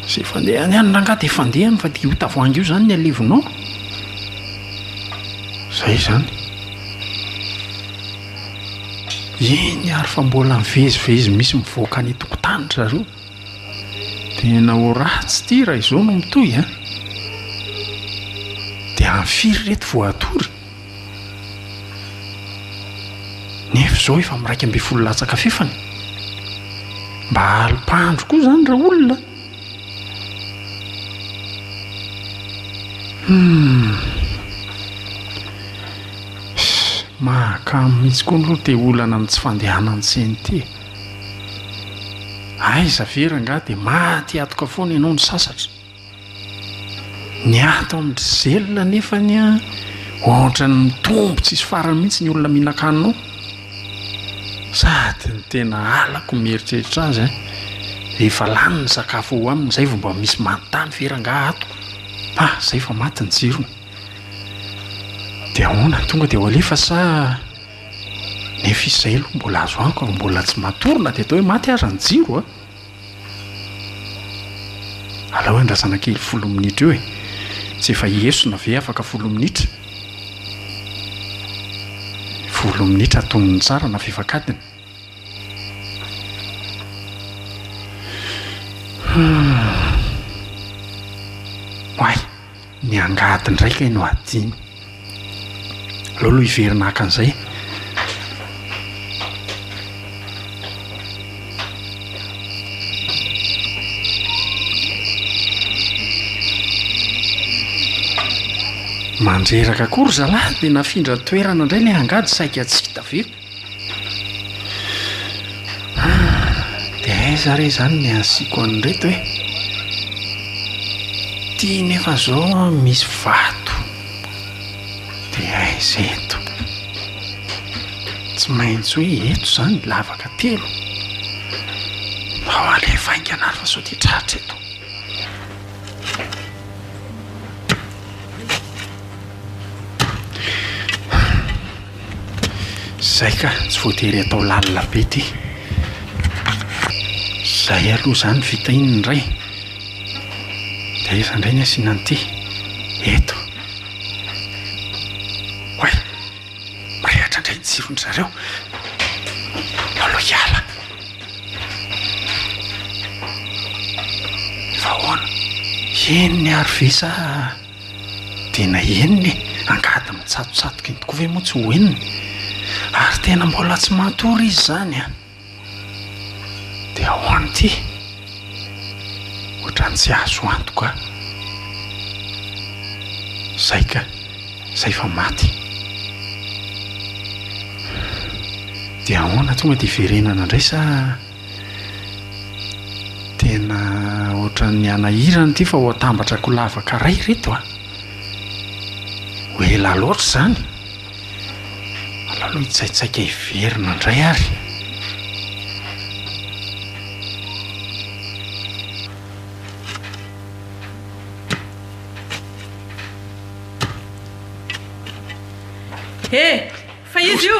S1: Zay fandeha any any rangaha dia fandehany fa dia io tavoahangy io zany ny alevinao. Zay zany. Eny ary fa mbola mivezivezy misy mivoaka any an-tokotany ry zareo. Tena ho ratsy ity raha izao no mitohy an. Dia amin'ny firy ireto vao hatory? Nefa izao efa miraika ambin'ny folo latsaka fefany. Mba alim-pandro koa izany raha olona. Hmm. Mahakamo mihitsy koa aloha te olana amin'ny tsy fandehanan'ny CNT. Aiza ve rangahy dia maty hatoka foana ianao ny sasatra. Ny ahy tao amin-dry Zella anefa anie an, ohatran'ny mitombo tsisy farany mihitsy ny olona mihinan-kanina ao. Sady ny tena halako ny mieritreritra azy an, rehefa lany ny sakafo ao aminy izay vao mba misy manontany ve rangaha ato? Fa izay efa maty ny jirony. Dia ahoana, tonga dia ho alefa sa nefa izy izay aloha mbola azo antoka fa mbola tsy matory na dia atao hoe maty aza ny jiro an! Alao andrasana kely folo minitra eo e! Tsy efa hiesona ve afaka folo minitra? Folo minitra atonony tsara na fifakatiny. Oay! ny angady ndray kay no adino aleo aloha hiverina haka an'izay mandreraka koa ry zalahy de nafindra toerana ndray le angady saika tsy hita ve. Dia aiza re izany ny asiako an'ireto e? Ity nefa izao misy vato, dia aiza eto? Tsy maintsy hoe eto izany lavaka telo. Mbao alefa haingana ary fa sao dia tratra eto. Zay ka, tsy voatery atao lalina be ity. Zay aloha zany vita iny ny ray de aiza ndray ny asiana an'ity? Eto. Oay! Mirehatra ndray ny jiro ndry zareo. Eo aloha hiala. Efa ahoana? Eny ary ve sa. Tena henony e! Angady mitsatotsatoka iny tokoa ve moa tsy ho henony? Ary tena mbola tsy matory izy izany an! Dia ho any ity ohatran'ny tsy azo antoka izay ka! Izay fa maty. Dia ahoana? Tonga dia hiverenana indray sa? Tena ohatran'ny hanahirana ity fa ho atambatra ko lavaka ray reto a! Ho ela loatra izany! Aleo aloha hitsaitsaika hiverina indray ary.
S4: He! Fa iza io?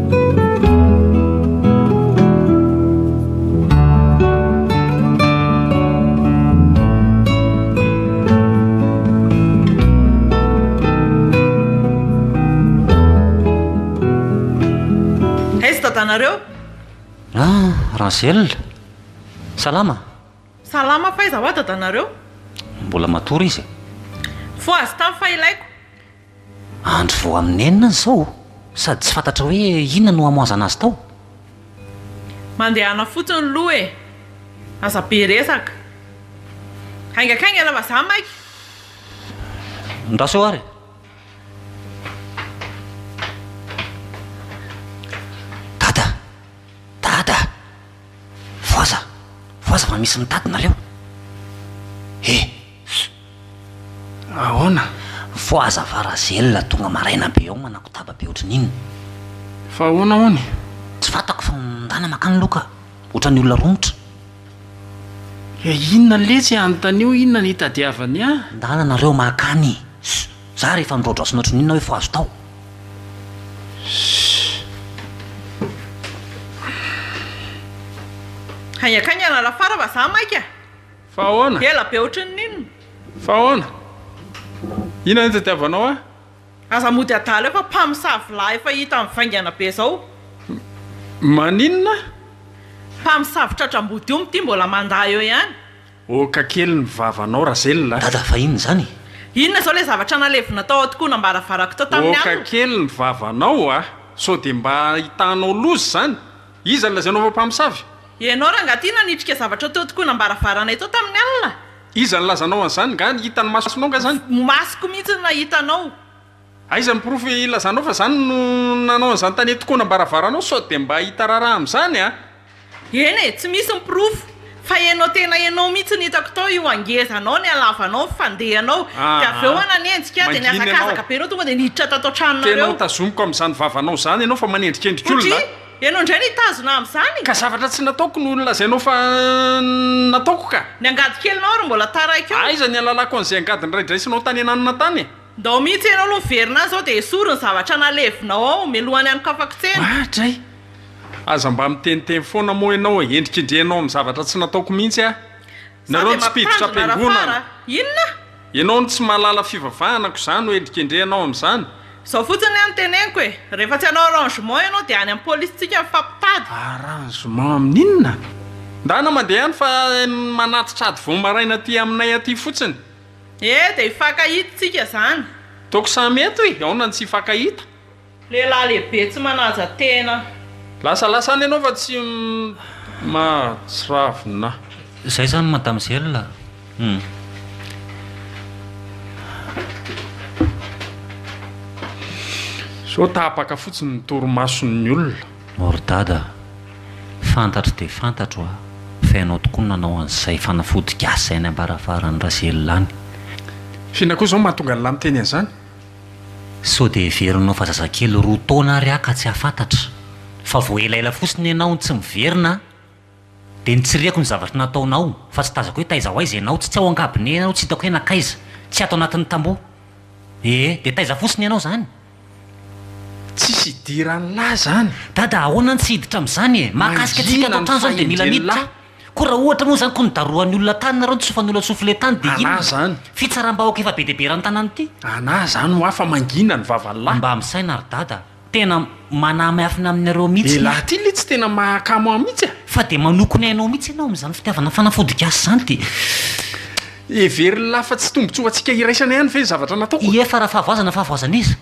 S4: Razel,
S2: salama? Salama
S4: fa aiza hoa dadanareo? Mbola matory
S2: izy e. Fohazy
S4: tany fa ilaiko.
S2: Andro vao amin'ny enina ny zao sady tsy fantatra hoe inona no hamoazana azy tao.
S4: Mandehana fotsiny loha e! Aza be resaka. Haingakaingana vazaha maika. Ndraso
S2: eo ary e! Dada! Dada! Voaza! Voaza fa misy mitady nareo e!
S1: Ahoana? Mifoha aza fa
S2: Razelina tonga maraina be ao manakotaba be ohatry ny inona? Fa
S1: ahoana hono e? Tsy fantako fa
S2: nondana makany aloha ka! Ohatran'ny olona romotra. He
S1: inona letsy e? Anontanio inona no itadiavany ahy? Ndana nareo makany
S2: Ss! Za rehefa midraodraosina ohatry ny inona hoe fohazo tao.
S4: Ss. Hay akany ianarafara fa za maika. Fa ahoana?
S1: Ela be ohatran'ny inona?
S4: Fa ahoana?
S1: Inona no tadiavanao ahy? Aza mody
S4: adala eo fa mpamosavy lahy efa hita mivaingana be izao. M,
S1: maninona?
S4: Mpamosavy tratra ambody omby ity mbola mandà eo ihany. Oka kely
S1: ny vavanao Razela a! Dada fa inona izany e?
S2: Inona izao ilay
S4: zavatra nalevina tao an-tokonam-baravarako tao tamin'ny alina? Oka kely ny
S1: vavanao a! Sao dia mba ahitanao loza izany? Iza no lazainao fa mpamosavy? Ianao rangahy ity
S4: nanitrika zavatra teo tokoana am-baravaranay teo tamin'ny alina? Iza no lazanao
S1: an'izany? Nga ny hitan'ny masonao nga izany? Ny masoko mihitsy no nahita
S4: anao. Aiza ny
S1: porofo ilazanao fa izany no nanao an'izany tany an-tokoana am-baravaranao? Sao dia mba hita raharaha amin'izany an! Eny e, tsy
S4: misy ny porofo. Fa ianao tena ianao mihitsy no hitako tao io hangezanao nialavanao ny fandehanao dia avy eo nanenjika aho dia nihazakazaka be ianao tonga dia niditra tato an-tranonareo. Tena ho tazomiko amin'izany
S1: vavanao izany ianao fa manendrikendrika olona a! Satria ianao indray no
S4: hitazona amin'izany. Ka zavatra tsy nataoko
S1: no nolazainao fa nataoko ka! Ny angady kelinao ary mbola
S4: taraiky eo. Aiza ny halalako an'izay angady
S1: noraidraisinao tany ananona tany e! Ndao mihitsy ianao
S4: aloha miverina any izao dia esory ny zavatra nalevinao ao mialohan'ny hanokafako tsena. Oa dray!
S1: Aza mba miteniteny foana moa ianao e, endrikendrehinao amin'ny zavatra tsy nataoko mihitsy aho. Nareo ny tsy mpiditra am-piangonana. Inona?
S4: Ianao no tsy
S1: mahalala fivavahana ko za no endrikendrehinao amin'izany? Izao fotsiny anie
S4: no teneniko e, rehefa tsy hanao arrangement ianao dia any amin'ny polisintsika mifampitady. Arrangement
S1: amin'inona? Ndana mandeha any fa manatitra ady vao maraina aty aminay aty fotsiny. Ee dia
S4: hifankahita isika izany. Toaka samy
S1: eto e, aona no tsy hifankahita?
S4: Lehilahy lehibe tsy manaja
S1: tena. Lasa lasa any enao fa tsy mahatsiravina. Zay zany
S2: madame zella hum.
S1: Sao tapaka fotsiny ny torimason'ny olona. O ry dada
S2: a! Fantatro dia fantatro a! Fa ianao tokoa no nanao an'izay fanafody gasy izay any am-baravarany Razella any. F'inona koa
S1: izao mahatonga an'lah miteny an'izany? Sao
S2: dia heverinao fa zazakely roa taona ary aho ka tsy hahafantatra? Fa vao elaela fotsiny ianao no tsy miverina an! Dia nitsiriako ny zavatra nataonao fa tsy tazako hoe taiza ho aiza ianao, tsy tsy ao an-kabine ianao, tsy hitako hoe nankaiza, tsy ato anatin'ny tamboho. Ee, dia taiza fotsiny ianao izany?
S1: Tsisy idiran'lah izany! Dada, ahoana no tsy
S2: hiditra amin'izany e! Mahakasika antsika ato an-trano izany dia mila miditra. Koa raha ohatra moa izany koa nidarohan'ny olona tany nareo, nitsofan'olona soufflet tany dia inona? Anà izany.
S1: Fitsaram-bahoaka efa be dia
S2: be eran'ny tanàna ity. Anà izany ho ahy fa
S1: mangina ny vavan'ny lahy. Mba misaina ry dada
S2: a! Tena manamihafina aminareo mihitsy ny. Lehilahy ity letsy tena
S1: mahakamo ahy mihitsy a! Fa dia manoko ny ainao
S2: mihitsy ianao amin'izany fitiavana fanafodin-gasy izany dia.
S1: Heverin'lah fa tsy tombotsoa ho antsika iraisana ihany ve ny zavatra nataoko? Ie fa raha fahavoazana
S2: fahavoazan'iza?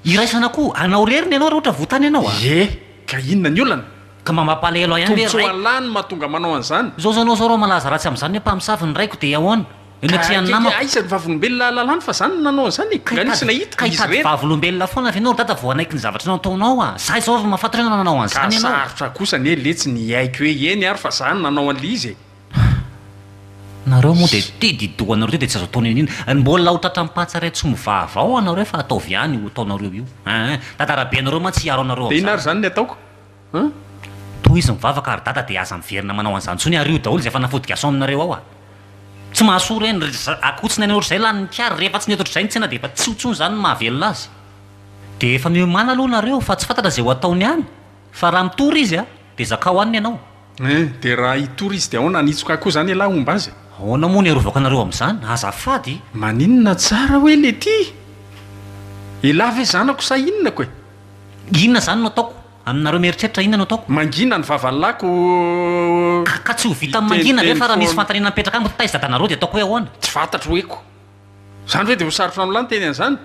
S2: Iraisana koa anao rery ny anao raha ohatra voa tany ianao a! Ie ka inona
S1: ny olana? Ka mba mampalahelo ahy
S2: ihany ve ry Tombontsoa raiko. Allah no mahatonga
S1: manao an'izany. Zao zanao zao r'aho malaza
S2: ratsy amin'izany hoe mpamosavy ny raiko dia ahoana? Eo ny Ka atrehan'ny keke namako. aiza ny vavolombelona
S1: lalàny fa zany no nanao an'izany e? Ka Nga nisy hitady nahita? ka Izy hitady rery. vavolombelona foana
S2: ve enao ry dada vao hanaiky ny zavatra nataonao a? Za izao ry mahafantatra hoe nanao Ka an'izany enao. sarotra kosa anie letsy
S1: ny hiaiky hoe eny ary fa za no nanao an'ilay izy e!
S2: Nareo moa dia tia didoha anareo ity dia tsy azo atao niniana. Ary mbola ho tratran'ny patsa iray tsy mova avao anareo fa ataovy ihany io ataonareo io. Hein! Dada Rabe anareo mantsy hiaro anareo Dia inona ary amin'izany. izany ny ataoko?
S1: Hum.
S2: Tohizo mivavaka ary dada dia aza miverina manao an'izany intsony ary io daholo izay fanafody gason'nareo ao ah. Tsy mahasoa ireny ry za, akotsiny any otrzay lanin'ny kary, rehefa tsy nety otrzay ny tsena dia efa tsy ho tsony izany ny mahavelona azy. Dia efa miomana aloha nareo fa tsy fantatra izay ho ataony any fa raha mitory izy a dia zakao any ny anao. Eh, dia raha
S1: hitory izy dia ahoana, hanitsoka koa izany elah homba azy? Ahoana moa ny arovako anareo
S2: amin'izany, azafady? Maninona tsara
S1: hoe lety? Elah ve zanako sa inona ko e? Inona izany
S2: no ataoko? Aminareo mieritreritra inona no ataoko? Mangina ny vavanlako
S1: oh.
S2: Ka ka tsy ho vitan'ny mangina ve fa raha misy fanontaniana mipetraka amiko taiza dadanareo dia ataoko hoe ahoana? Tsy fantatro hoe ko.
S1: Zany ve dia ho sarotra amin'lah ny teny an'izany?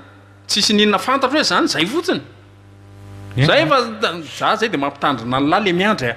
S1: Tsisy ininona fantatro hoe zany, zay fotsiny. Zay fa za zay dia mampitandrina an'lah le miandry a.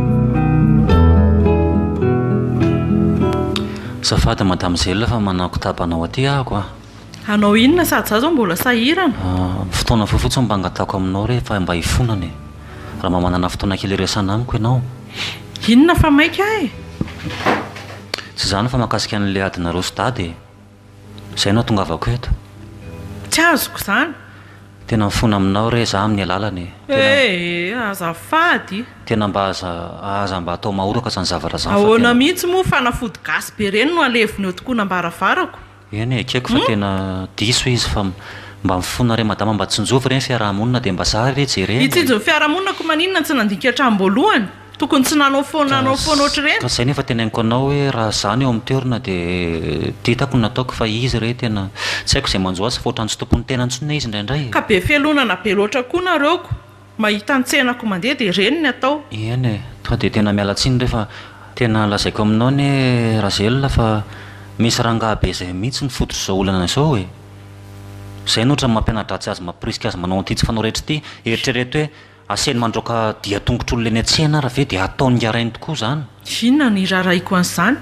S2: Azafady madame Zella fa manao kitapo anao aty ahako a! Hanao inona
S4: sady za zao mbola sahirana. Ah, fotoana fohy
S2: fotsiny mba angatahako aminao re fa mba hifonana e! Raha mba manana fotoana kely hiresahana amiko ianao. Inona fa
S4: maika e!
S2: Tsy izany fa mahakasika an'ilay adinareo sy dada e! Izay no hahatongavako eto. Tsy
S4: azoko izany. Tena mifona
S2: aminao re za amin'ny alalany. Eh! Azafady.
S4: Tena mba aza
S2: aza mba atao mahoraka izany zavatra izany fa tena. Ahoana mihitsy moa
S4: fanafody gasy be ireny no alevina eo tokoa ambaravarako. Eny e, ekeko fa
S2: tena diso izy fa mba mifona re madama mba tsinjovy re ny fiaraha-monina dia mba zah re jerena e. Hitsinjo ny fiaraha-monina koa
S4: maninona tsy nandinika hatramin'ny voalohany? Tokony tsy nanao foana nanao foana ohatr'ireny. Ka zay no efa teneninko anao
S2: hoe raha za no eo amin'ny toerana dia ditako ny nataoko fa izy re tena tsy haiko izay manjo azy fa ohatran'ny tsy tompon'ny tenany intsony hoe izy indraindray e. Ka be fialonana be
S4: loatra koa nareo ko mahita ny tsenako mandeha dia ireny ny atao. Eny e, tonga dia
S2: tena miala tsiny re fa tena lazaiko aminao anie Razelina fa misy rangahy be izay mihitsy ny fototr'izao olana izao e. Izay no ohatran'ny mampiana-dratsy azy mampirisika azy manao an'ity tsy fanao rehetra ity, eritrereto hoe Asehony mandroaka dian-tongotr'olona eny an-tsena ary avy eo dia ataony ngarainy tokoa izany. Inona no iraharahiako
S4: an'izany?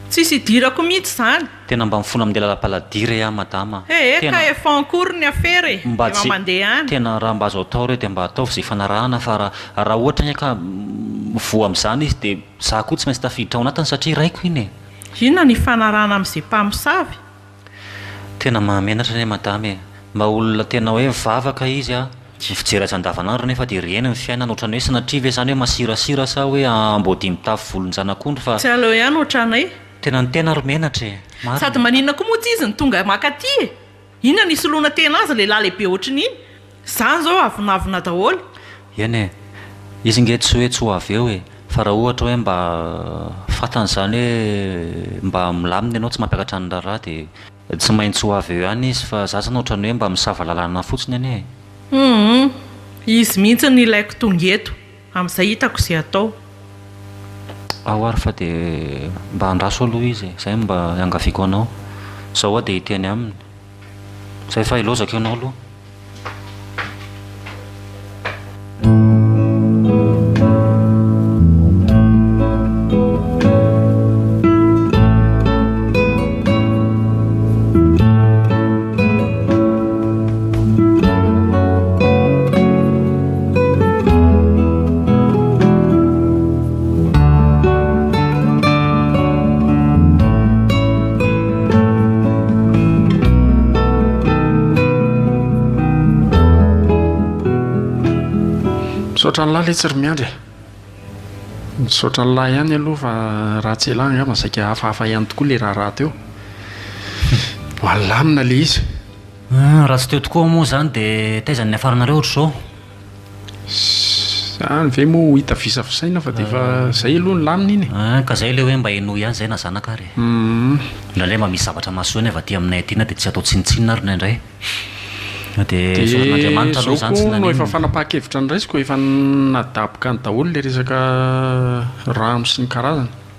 S4: Tsisy idirako mihitsy izany! Tena mba mifona min'ilay
S2: lalapaladira ee a madama a! He he ka efa en
S4: cours ny afera e! Mba efa mandeha any!
S2: Tena
S4: raha mba azo atao ireo
S2: dia mba ataovy izay ifanarahana fa raha raha ohatra anie ka mivoha amin'izany izy dia za koa tsy maintsy tafiditra ao anatiny satria raiko iny e! Inona no ifanarahana
S4: amin'izay mpamosavy?
S2: Tena mahamenatra anie madama e! Mba olona tena hoe vavaka izy a! Ny fijery azy andavanandro anefa dia reny ny fiainany otrany hoe sanatria ve izany hoe masirasira sa hoe amboadia mitafy volon-janak'ondry fa Tsy aleo ihany otranay.
S4: Tena ny tena ary
S2: menatra e! Marina. Sady maninona koa moa
S4: tsy izy no tonga makaty e! Inona no hisoloana tena azy lehilahy lehibe ohatrin'iny? Zany zao avonavona daholo. Eny e,
S2: izy nge tsy hoe tsy ho avy eo e, fa raha ohatra hoe mba fantany zany hoe mba milamina ianao tsy mampiakatra ny raharaha dia tsy maintsy ho avy eo ihany izy fa za zany otrany hoe mba misava lalana fotsiny anie e. Humm,
S4: izy mihitsy no ilaiko tonga eto. Amin'izay hitako izay hatao.
S2: Aho ary fa dia mba andraso aloha izy e! Izay no mba iangaviako anao. Izao aho dia hiteny aminy. Izay fa hilaozako ianao aloha.
S1: Misaotra an'lah letsy ry Miandry e! Misaotra an'lah ihany aloha fa raha tsy elah angamba saika hafahafa ihany tokoa ilay raharaha teo. Malamina ilay izy. Hum, raha tsy
S2: teo tokoa aho moa izany dia taiza no niafaranareo ohatr'izao?
S1: Izany ve moa ho hita visavisaina fa dia efa izay aloha ny lamina iny e! Hum, ka izay ilay hoe mba
S2: henoy ihany izay na zanaka ary e! Hum. Indraindray mba misy zavatra mahasoa ny avy aty aminay aty na dia tsy atao tsinontsinona ary indraindray. Na dia soron'Andriamanitra aloha izany tsy naninona. Dia izao koa no efa fanapahan-kevitra
S1: ny raisiko, efa nadaboka any daholo ilay resaka rano sy ny karazany.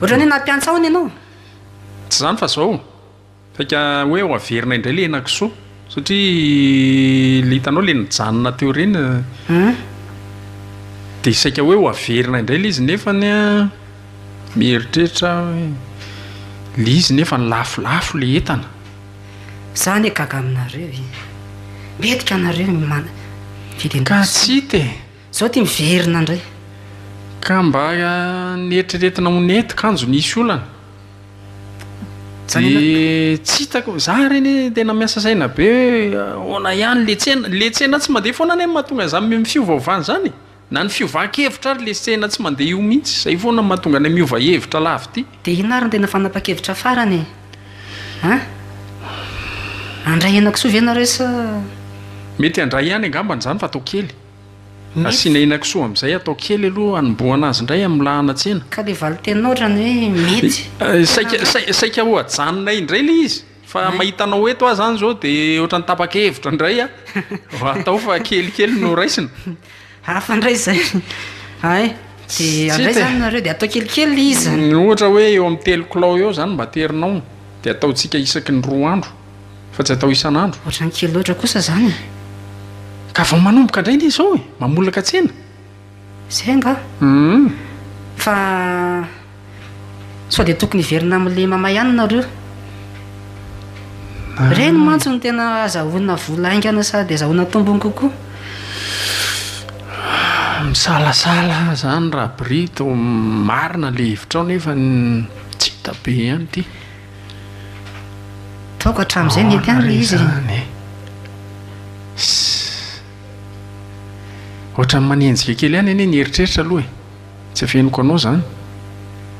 S3: Ohatrany hoe nampiantsa hono ianao. Tsy izany
S1: fa izao, saika hoe ho averina indray ilay henakisoa, satria ilay hitanao ilay nijanona teo ireny, dia saika hoe ho averina indray ilay izy nefany mieritreritra aho hoe ilay izy nefa lafolafo ilay entana. Izaho
S3: anie gaga aminareo e! Mety ka nareo ny mana-, fidy
S1: an-dRasoa. Ka tsy hita e! Zao ty miverina
S3: ndray. Ka
S1: mba neritreretina ho nety kanjo nisy olana de tsy hitako za re ne tena miasa saina be hoe ahoana ihany le tsena le tsena tsy mandeha foana ne mahatonga za miova ovana zany e na ny fiovan kevitra ary le tsena tsy mandeha io mihitsy zay foana mahatonga anay miova hevitra lavity de inona ary ny tena fanapa
S3: kevitra farany e an handray henakisoa ve nareo sa mety
S1: handray ihany angambany zany fa atao kely. Asiana henakisoa amin'izay atao kely aloha hanombohana azy indray amin'ny lahana tsena. Ka dia valin-teninao
S3: ohatran'ny hoe mety. Saika, saika, saika ho
S1: ajanonay indray ilay izy. Fa mahita anao eto aho izany izao dia ohatran'ny tapa-kevitra indray aho. Atao fa kelikely no raisina. Hafa indray
S3: izay. Hay. Dia avy aiza any nareo dia atao kelikely ilay izy. Ohatra hoe eo amin'ny
S1: telo kilao eo izany no mba aterinao. Dia ataontsika isaky ny roa andro. fa tsy atao isan'andro. Ohatrany kely loatra kosa
S3: zany e. Ka
S1: vao manomboka indray le izao e, mamolaka tsena. Zay
S3: angaha? Hum. Fa sao dia tokony hiverina amin'le mama ihany nareo. Ireny mantsy no tena azahoana vola haingana sady azahoana tombony kokoa.
S1: Misalasala aho zany Rabrito, marina le hevitrao nefa tsy hita be ihany ity.
S3: Ataoko hatramin'izay mety amiko ilay izy e. Sss.
S1: Ohatran'ny manenjika kely ihany anie ny eritreritra aloha e. Tsy afeniko anao izany.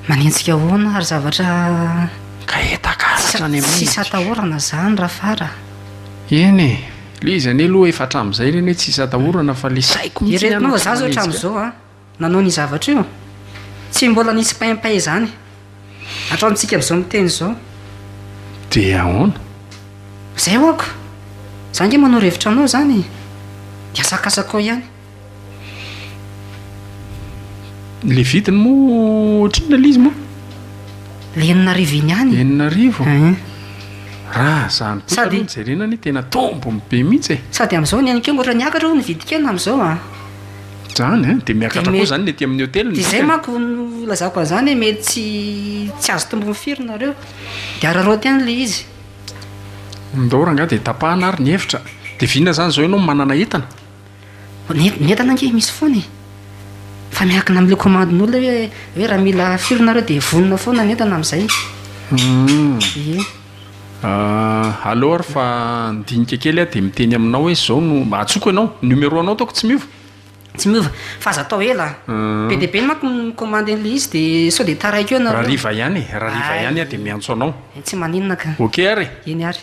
S1: Manenjika
S3: ahoana ary zavatra Ka
S1: hetakaritr any amin'ny tsisy atahorana izany
S3: Rafar a. Eny e,
S1: ilay izy anie aloha efa hatramin'izay anie tsy hisy atahorana fa ilay saiko mihitsy ihany ohatran'ny manenjika ahy. Ireto moa za izao hatramin'izao
S3: a, Nanao ny zavatra io? Tsy mbola nisy paimpay izany hatramintsika amin'izao miteny izao. Dia
S1: ahoana? Izay
S3: hoako! Za ange manoro hevitra anao izany dia asakasakao ihany.
S1: Ilay vidiny moa ohatrinona ilay izy moa? Ilay
S3: enina arivo iny ihany. Enina arivo? Hein.
S1: Raha izany kosa aloha no jerena anie tena tombony be mihitsy e! Sady amin'izao ny an'ikeo
S3: mbola niakatra hono ny vidin-kena amin'izao a! Zany
S1: eh, de miakatra koa zany ny aty amin'ny hôtel ny Izay manko nilazako
S3: an'izany hoe mety tsy tsy azo tombony firy nareo. De araraoty any le izy.
S1: Ndao rangahy de tapahana ary ny hevitra. De vina zany zao ianao manana entana? Ny
S3: ny entana ange misy foana e. Fa miankina am'le komandin'olona hoe hoe raha mila firy nareo de vonona foana ny entana am'zay. Hum. Ie.
S1: Ahh aleo ary fa handinika kely aho de miteny aminao hoe zao no, mba atsoko ianao, numero anao ataoko tsy miova? Tsy miova,
S3: fa aza atao ela an! Be dia be manko ny commande an'ilay izy de sao de taraiky eo nareo. Rariva ihany e, rariva
S1: ihany aho de miantso anao. Hay tsy maninona ka.
S3: Ok ary e! Eny ary.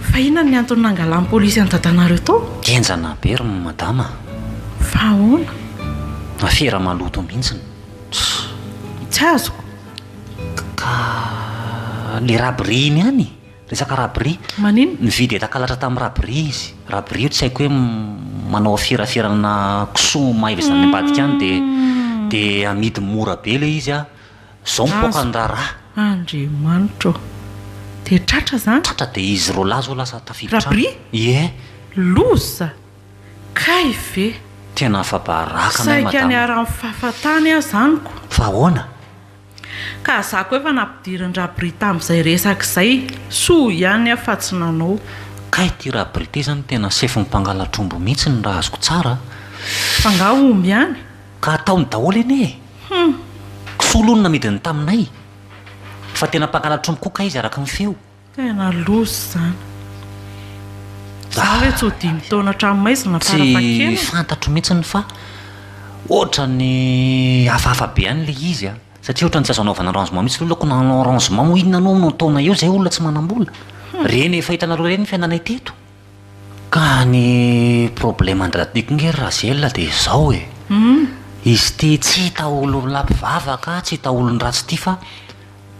S4: Fa
S2: inona
S4: ny antony nangalan'ny
S2: polisy
S4: an'i dadanareo tao?
S2: Henjana
S4: be ry
S2: madama
S4: a! Fa ahoana?
S2: Afera maloto mihitsy ny
S4: Tsy azoko. Ka
S2: le rabri iny ihany e! Resaka rabri. Maninona? Nividy
S4: entakalatra tamin'ny
S2: rabri izy. Rabri io tsy haiko hoe manao aferaferana kisoa maiva izany ambadika any dia dia amidy mora be ilay izy a! Zao mipoaka ny raharaha. Andriamanitra
S4: ô! Dia tratra zany? Tratra dia izy roa lahy
S2: zao lasa tafiditra any. Rabria? Ie. Loza!
S4: Kay ve? Tena afabaraka
S2: anay madama. Saika niharan'ny
S4: fahafatany aho zany ko. Fa ahoana?
S2: Ka
S4: za ko efa nampidirin-dRabria tamin'izay resaka izay, soa ihany aho fa tsy nanao. Kay ity
S2: Rabria ity zany tena sefon'ny mpangalatr'omby mihitsiny raha azoko tsara a! F'angaha
S4: omby ihany? Ka ataony
S2: daholo anie e! Hum! Kisoa lo no namidiny taminay fa tena mpangala tromby koa kay izy araka ny feo. Tena loza
S4: izany. Za ve tsy ho dimy taona hatramin'ny maizina farafahakeliny? Tsy fantatro mihitsiny
S2: fa ohatran'ny hafahafa be ihany ilay izy a! Satria ohatran'ny tsy azo anaovana arrangement mihitsy ilay olona, koa na hanao arrangement moa inona anao amin'io taona io izay olona tsy manam-bola. Reny efa hitanareo ireny ny fiainanay teto. Ka ny problème an-dRadiko nge ry Razela dia izao e, izy ity tsy hita olona mpivavaka, tsy hita olon-dratsy ity fa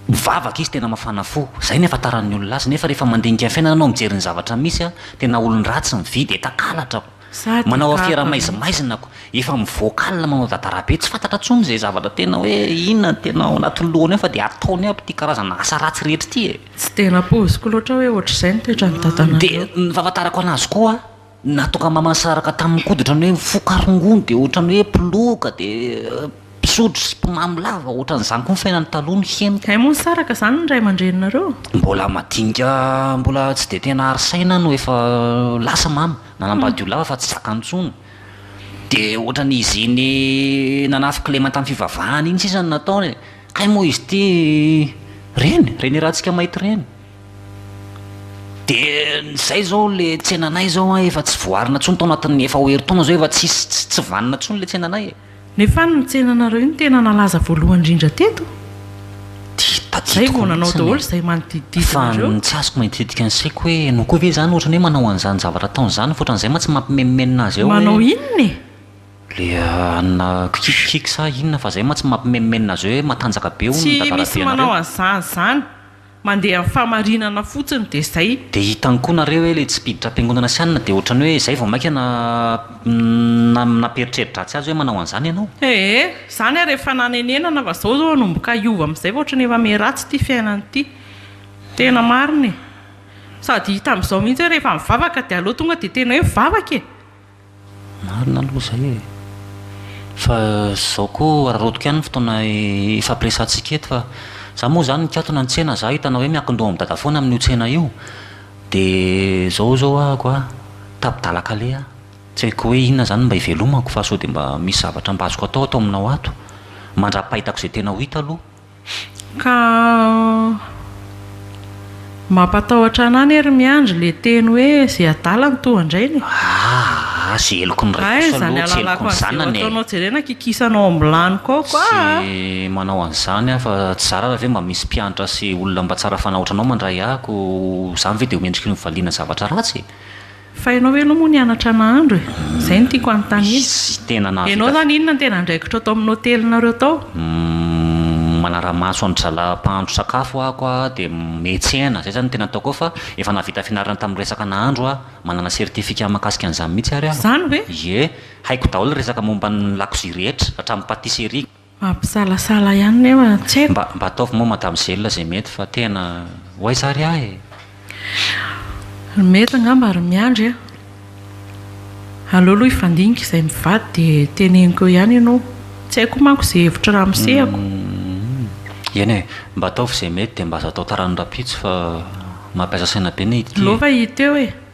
S2: mivavaka izy tena mafana fo, izay no ihafantaran'ny olona azy nefa rehefa mandinika ny fiainana ianao mijery ny zavatra misy an, tena olon-dratsy mividy enta-kalatra ako, manao afiera maizimaizina ako, efa mivoaka alina manao dadarabe, tsy fantatra intsony izay zavatra tena hoe inona no tena ao anatin'ny lohany ao fa dia ataony aby ity karazana asa ratsy rehetra ity e! Tsy dia nampoiziko
S4: loatra hoe ohatr'izay ny toetran'ny dadanareo. Dia ny fahafantarako
S2: an'azy koa, nahatonga aman-saraka taminy koa dia ohatrany hoe mifoka rongony dia ohatrany hoe mpiloka dia mpisotro sy mpimamy lava, ohatran'izany koa ny fiainany taloha ny henoko. Hay moa nisaraka izany ny
S4: ray aman-dreninareo? Mbola madinika
S2: mbola tsy dia tena ary saina no efa lasa mama, nanambady olona hafa fa tsy zakany intsony. Dia ohatran'izy iny nanafy kilema tamin'ny fivavahany iny sisa no nataony e. Kay moa izy ity reny, reny Ratsika Maity reny. Dia izay izao ilay tsenanay izao an, efa tsy voaarina intsony tao anatin'ny efa ho herintaona izao efa tsisy, tsy, tsy vanona intsony ilay tsenanay e. Nefa ny
S4: tsenanareo iny tena nalaza voalohany indrindra teto. Dia tadidiko mihitsiny e. Izay vao nanao daholo izay manodidididina ireo. Fa ny tsy azoko manitididika
S2: ny saiko hoe ianao koa ve izany ohatrany hoe manao an'izany zavatra ataony izany fa ohatran'izay mantsy mampimenomenona azy eo hoe. Manao inona e?
S4: Le
S2: anona kikikk kikikk sa inona fa zay mantsy mampimenomenona azy hoe matanjaka be hono ny Tsy misy dadarabe manao nareo.
S4: an'izany zany. Mandeha amin'ny fahamarinana fotsiny dia zay. Dia hitany koa nareo
S2: hoe le tsy mpiditra am-piangonana sy anona dia ohatrany hoe zay vao maika na na nampieritreri-dratsy azy hoe manao an'izany ianao. Ee, zany
S4: ary efa nanenenana fa zao zao hanomboka hiova amizay fa ohatrany efa miharatsy ity fiainana ity. Tena marina e. Sady hita amizao mihitsy hoe rehefa mivavaka dia aleo tonga dia tena hoe mivavaka e. Marina
S2: aloha izay e. Fa izao koa araraotiko ihany ny fotoana ifampiresahantsika eto fa za moa izany nikatona nitsena za hitanao hoe miankin-doha amin'i dada foana amin'io tsena io dia izao izao ahako a, tapi-dalaka leha aho. Tsy haiko hoe inona izany no mba ivelomako fa sao dia mba misy zavatra mba azoko atao ato aminao ato mandra-pahitako izay tena ho hita aloha. Ka
S4: mampatahotra ana anie ry Miandry le teny hoe ze adala no toa andrainy e! Aah a!
S2: Ze heloky ny ray kosa aloha tsy heloky ny
S4: zanany e! Hay zany alalako an'izay ho ataonao jerena kikisanao amin'ny vilany kaoko aa! Tsy manao
S2: an'izany aho fa tsy zara raha ve mba misy mpianatra sy olona mba tsara fanahy ohatranao mandray ahy ko zany ve de ho mendriky ny valiana zavatra ratsy e! Fa ianao ve
S4: aloha moa nianatra nahandro e? Izay no tiako hanontaniana. Ianao
S2: izany inona no
S4: tena andraikitra tao amin'ny hotelinareo tao? Manara-maso
S2: an-dry zalahy mpahandro sakafo aho koa dia mihetsena, izay izany no tena ataoko ao fa efa nahavita fianarana tamin'ny resaka nahandro aho, manana certificat mahakasika an'izany mihitsy ary aho. Izany ve? Ie,
S4: haiko
S2: daholo ny resaka momba ny lakozia rehetra, hatramin'ny patisserie. Mampisalasala
S4: ihany nefa tsy haiko. Mba mba ataovy moa madame
S2: Zella izay mety fa tena ho aiza ary ahy e! Ry mety
S4: angamba ry miandry a! Aleo aloha hifandinika izay mivady dia teneniko eo ihany ianao. Tsy haiko koa manko izay hevitry ramose ako. Humm.
S2: Eny e! Mba ataovy izay mety dia mba aza atao taran'ny rahampitso fa mampiasa saina be ny ity e! Aleo fa hita eo e!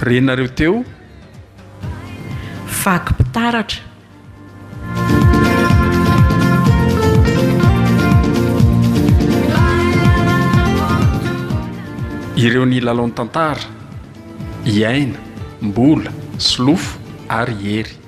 S1: Renareo teo. Vaky
S4: mpitaratra.
S1: Ireo nilalao ny tantara, i Aina, Mbola, Solofo ary i Hery.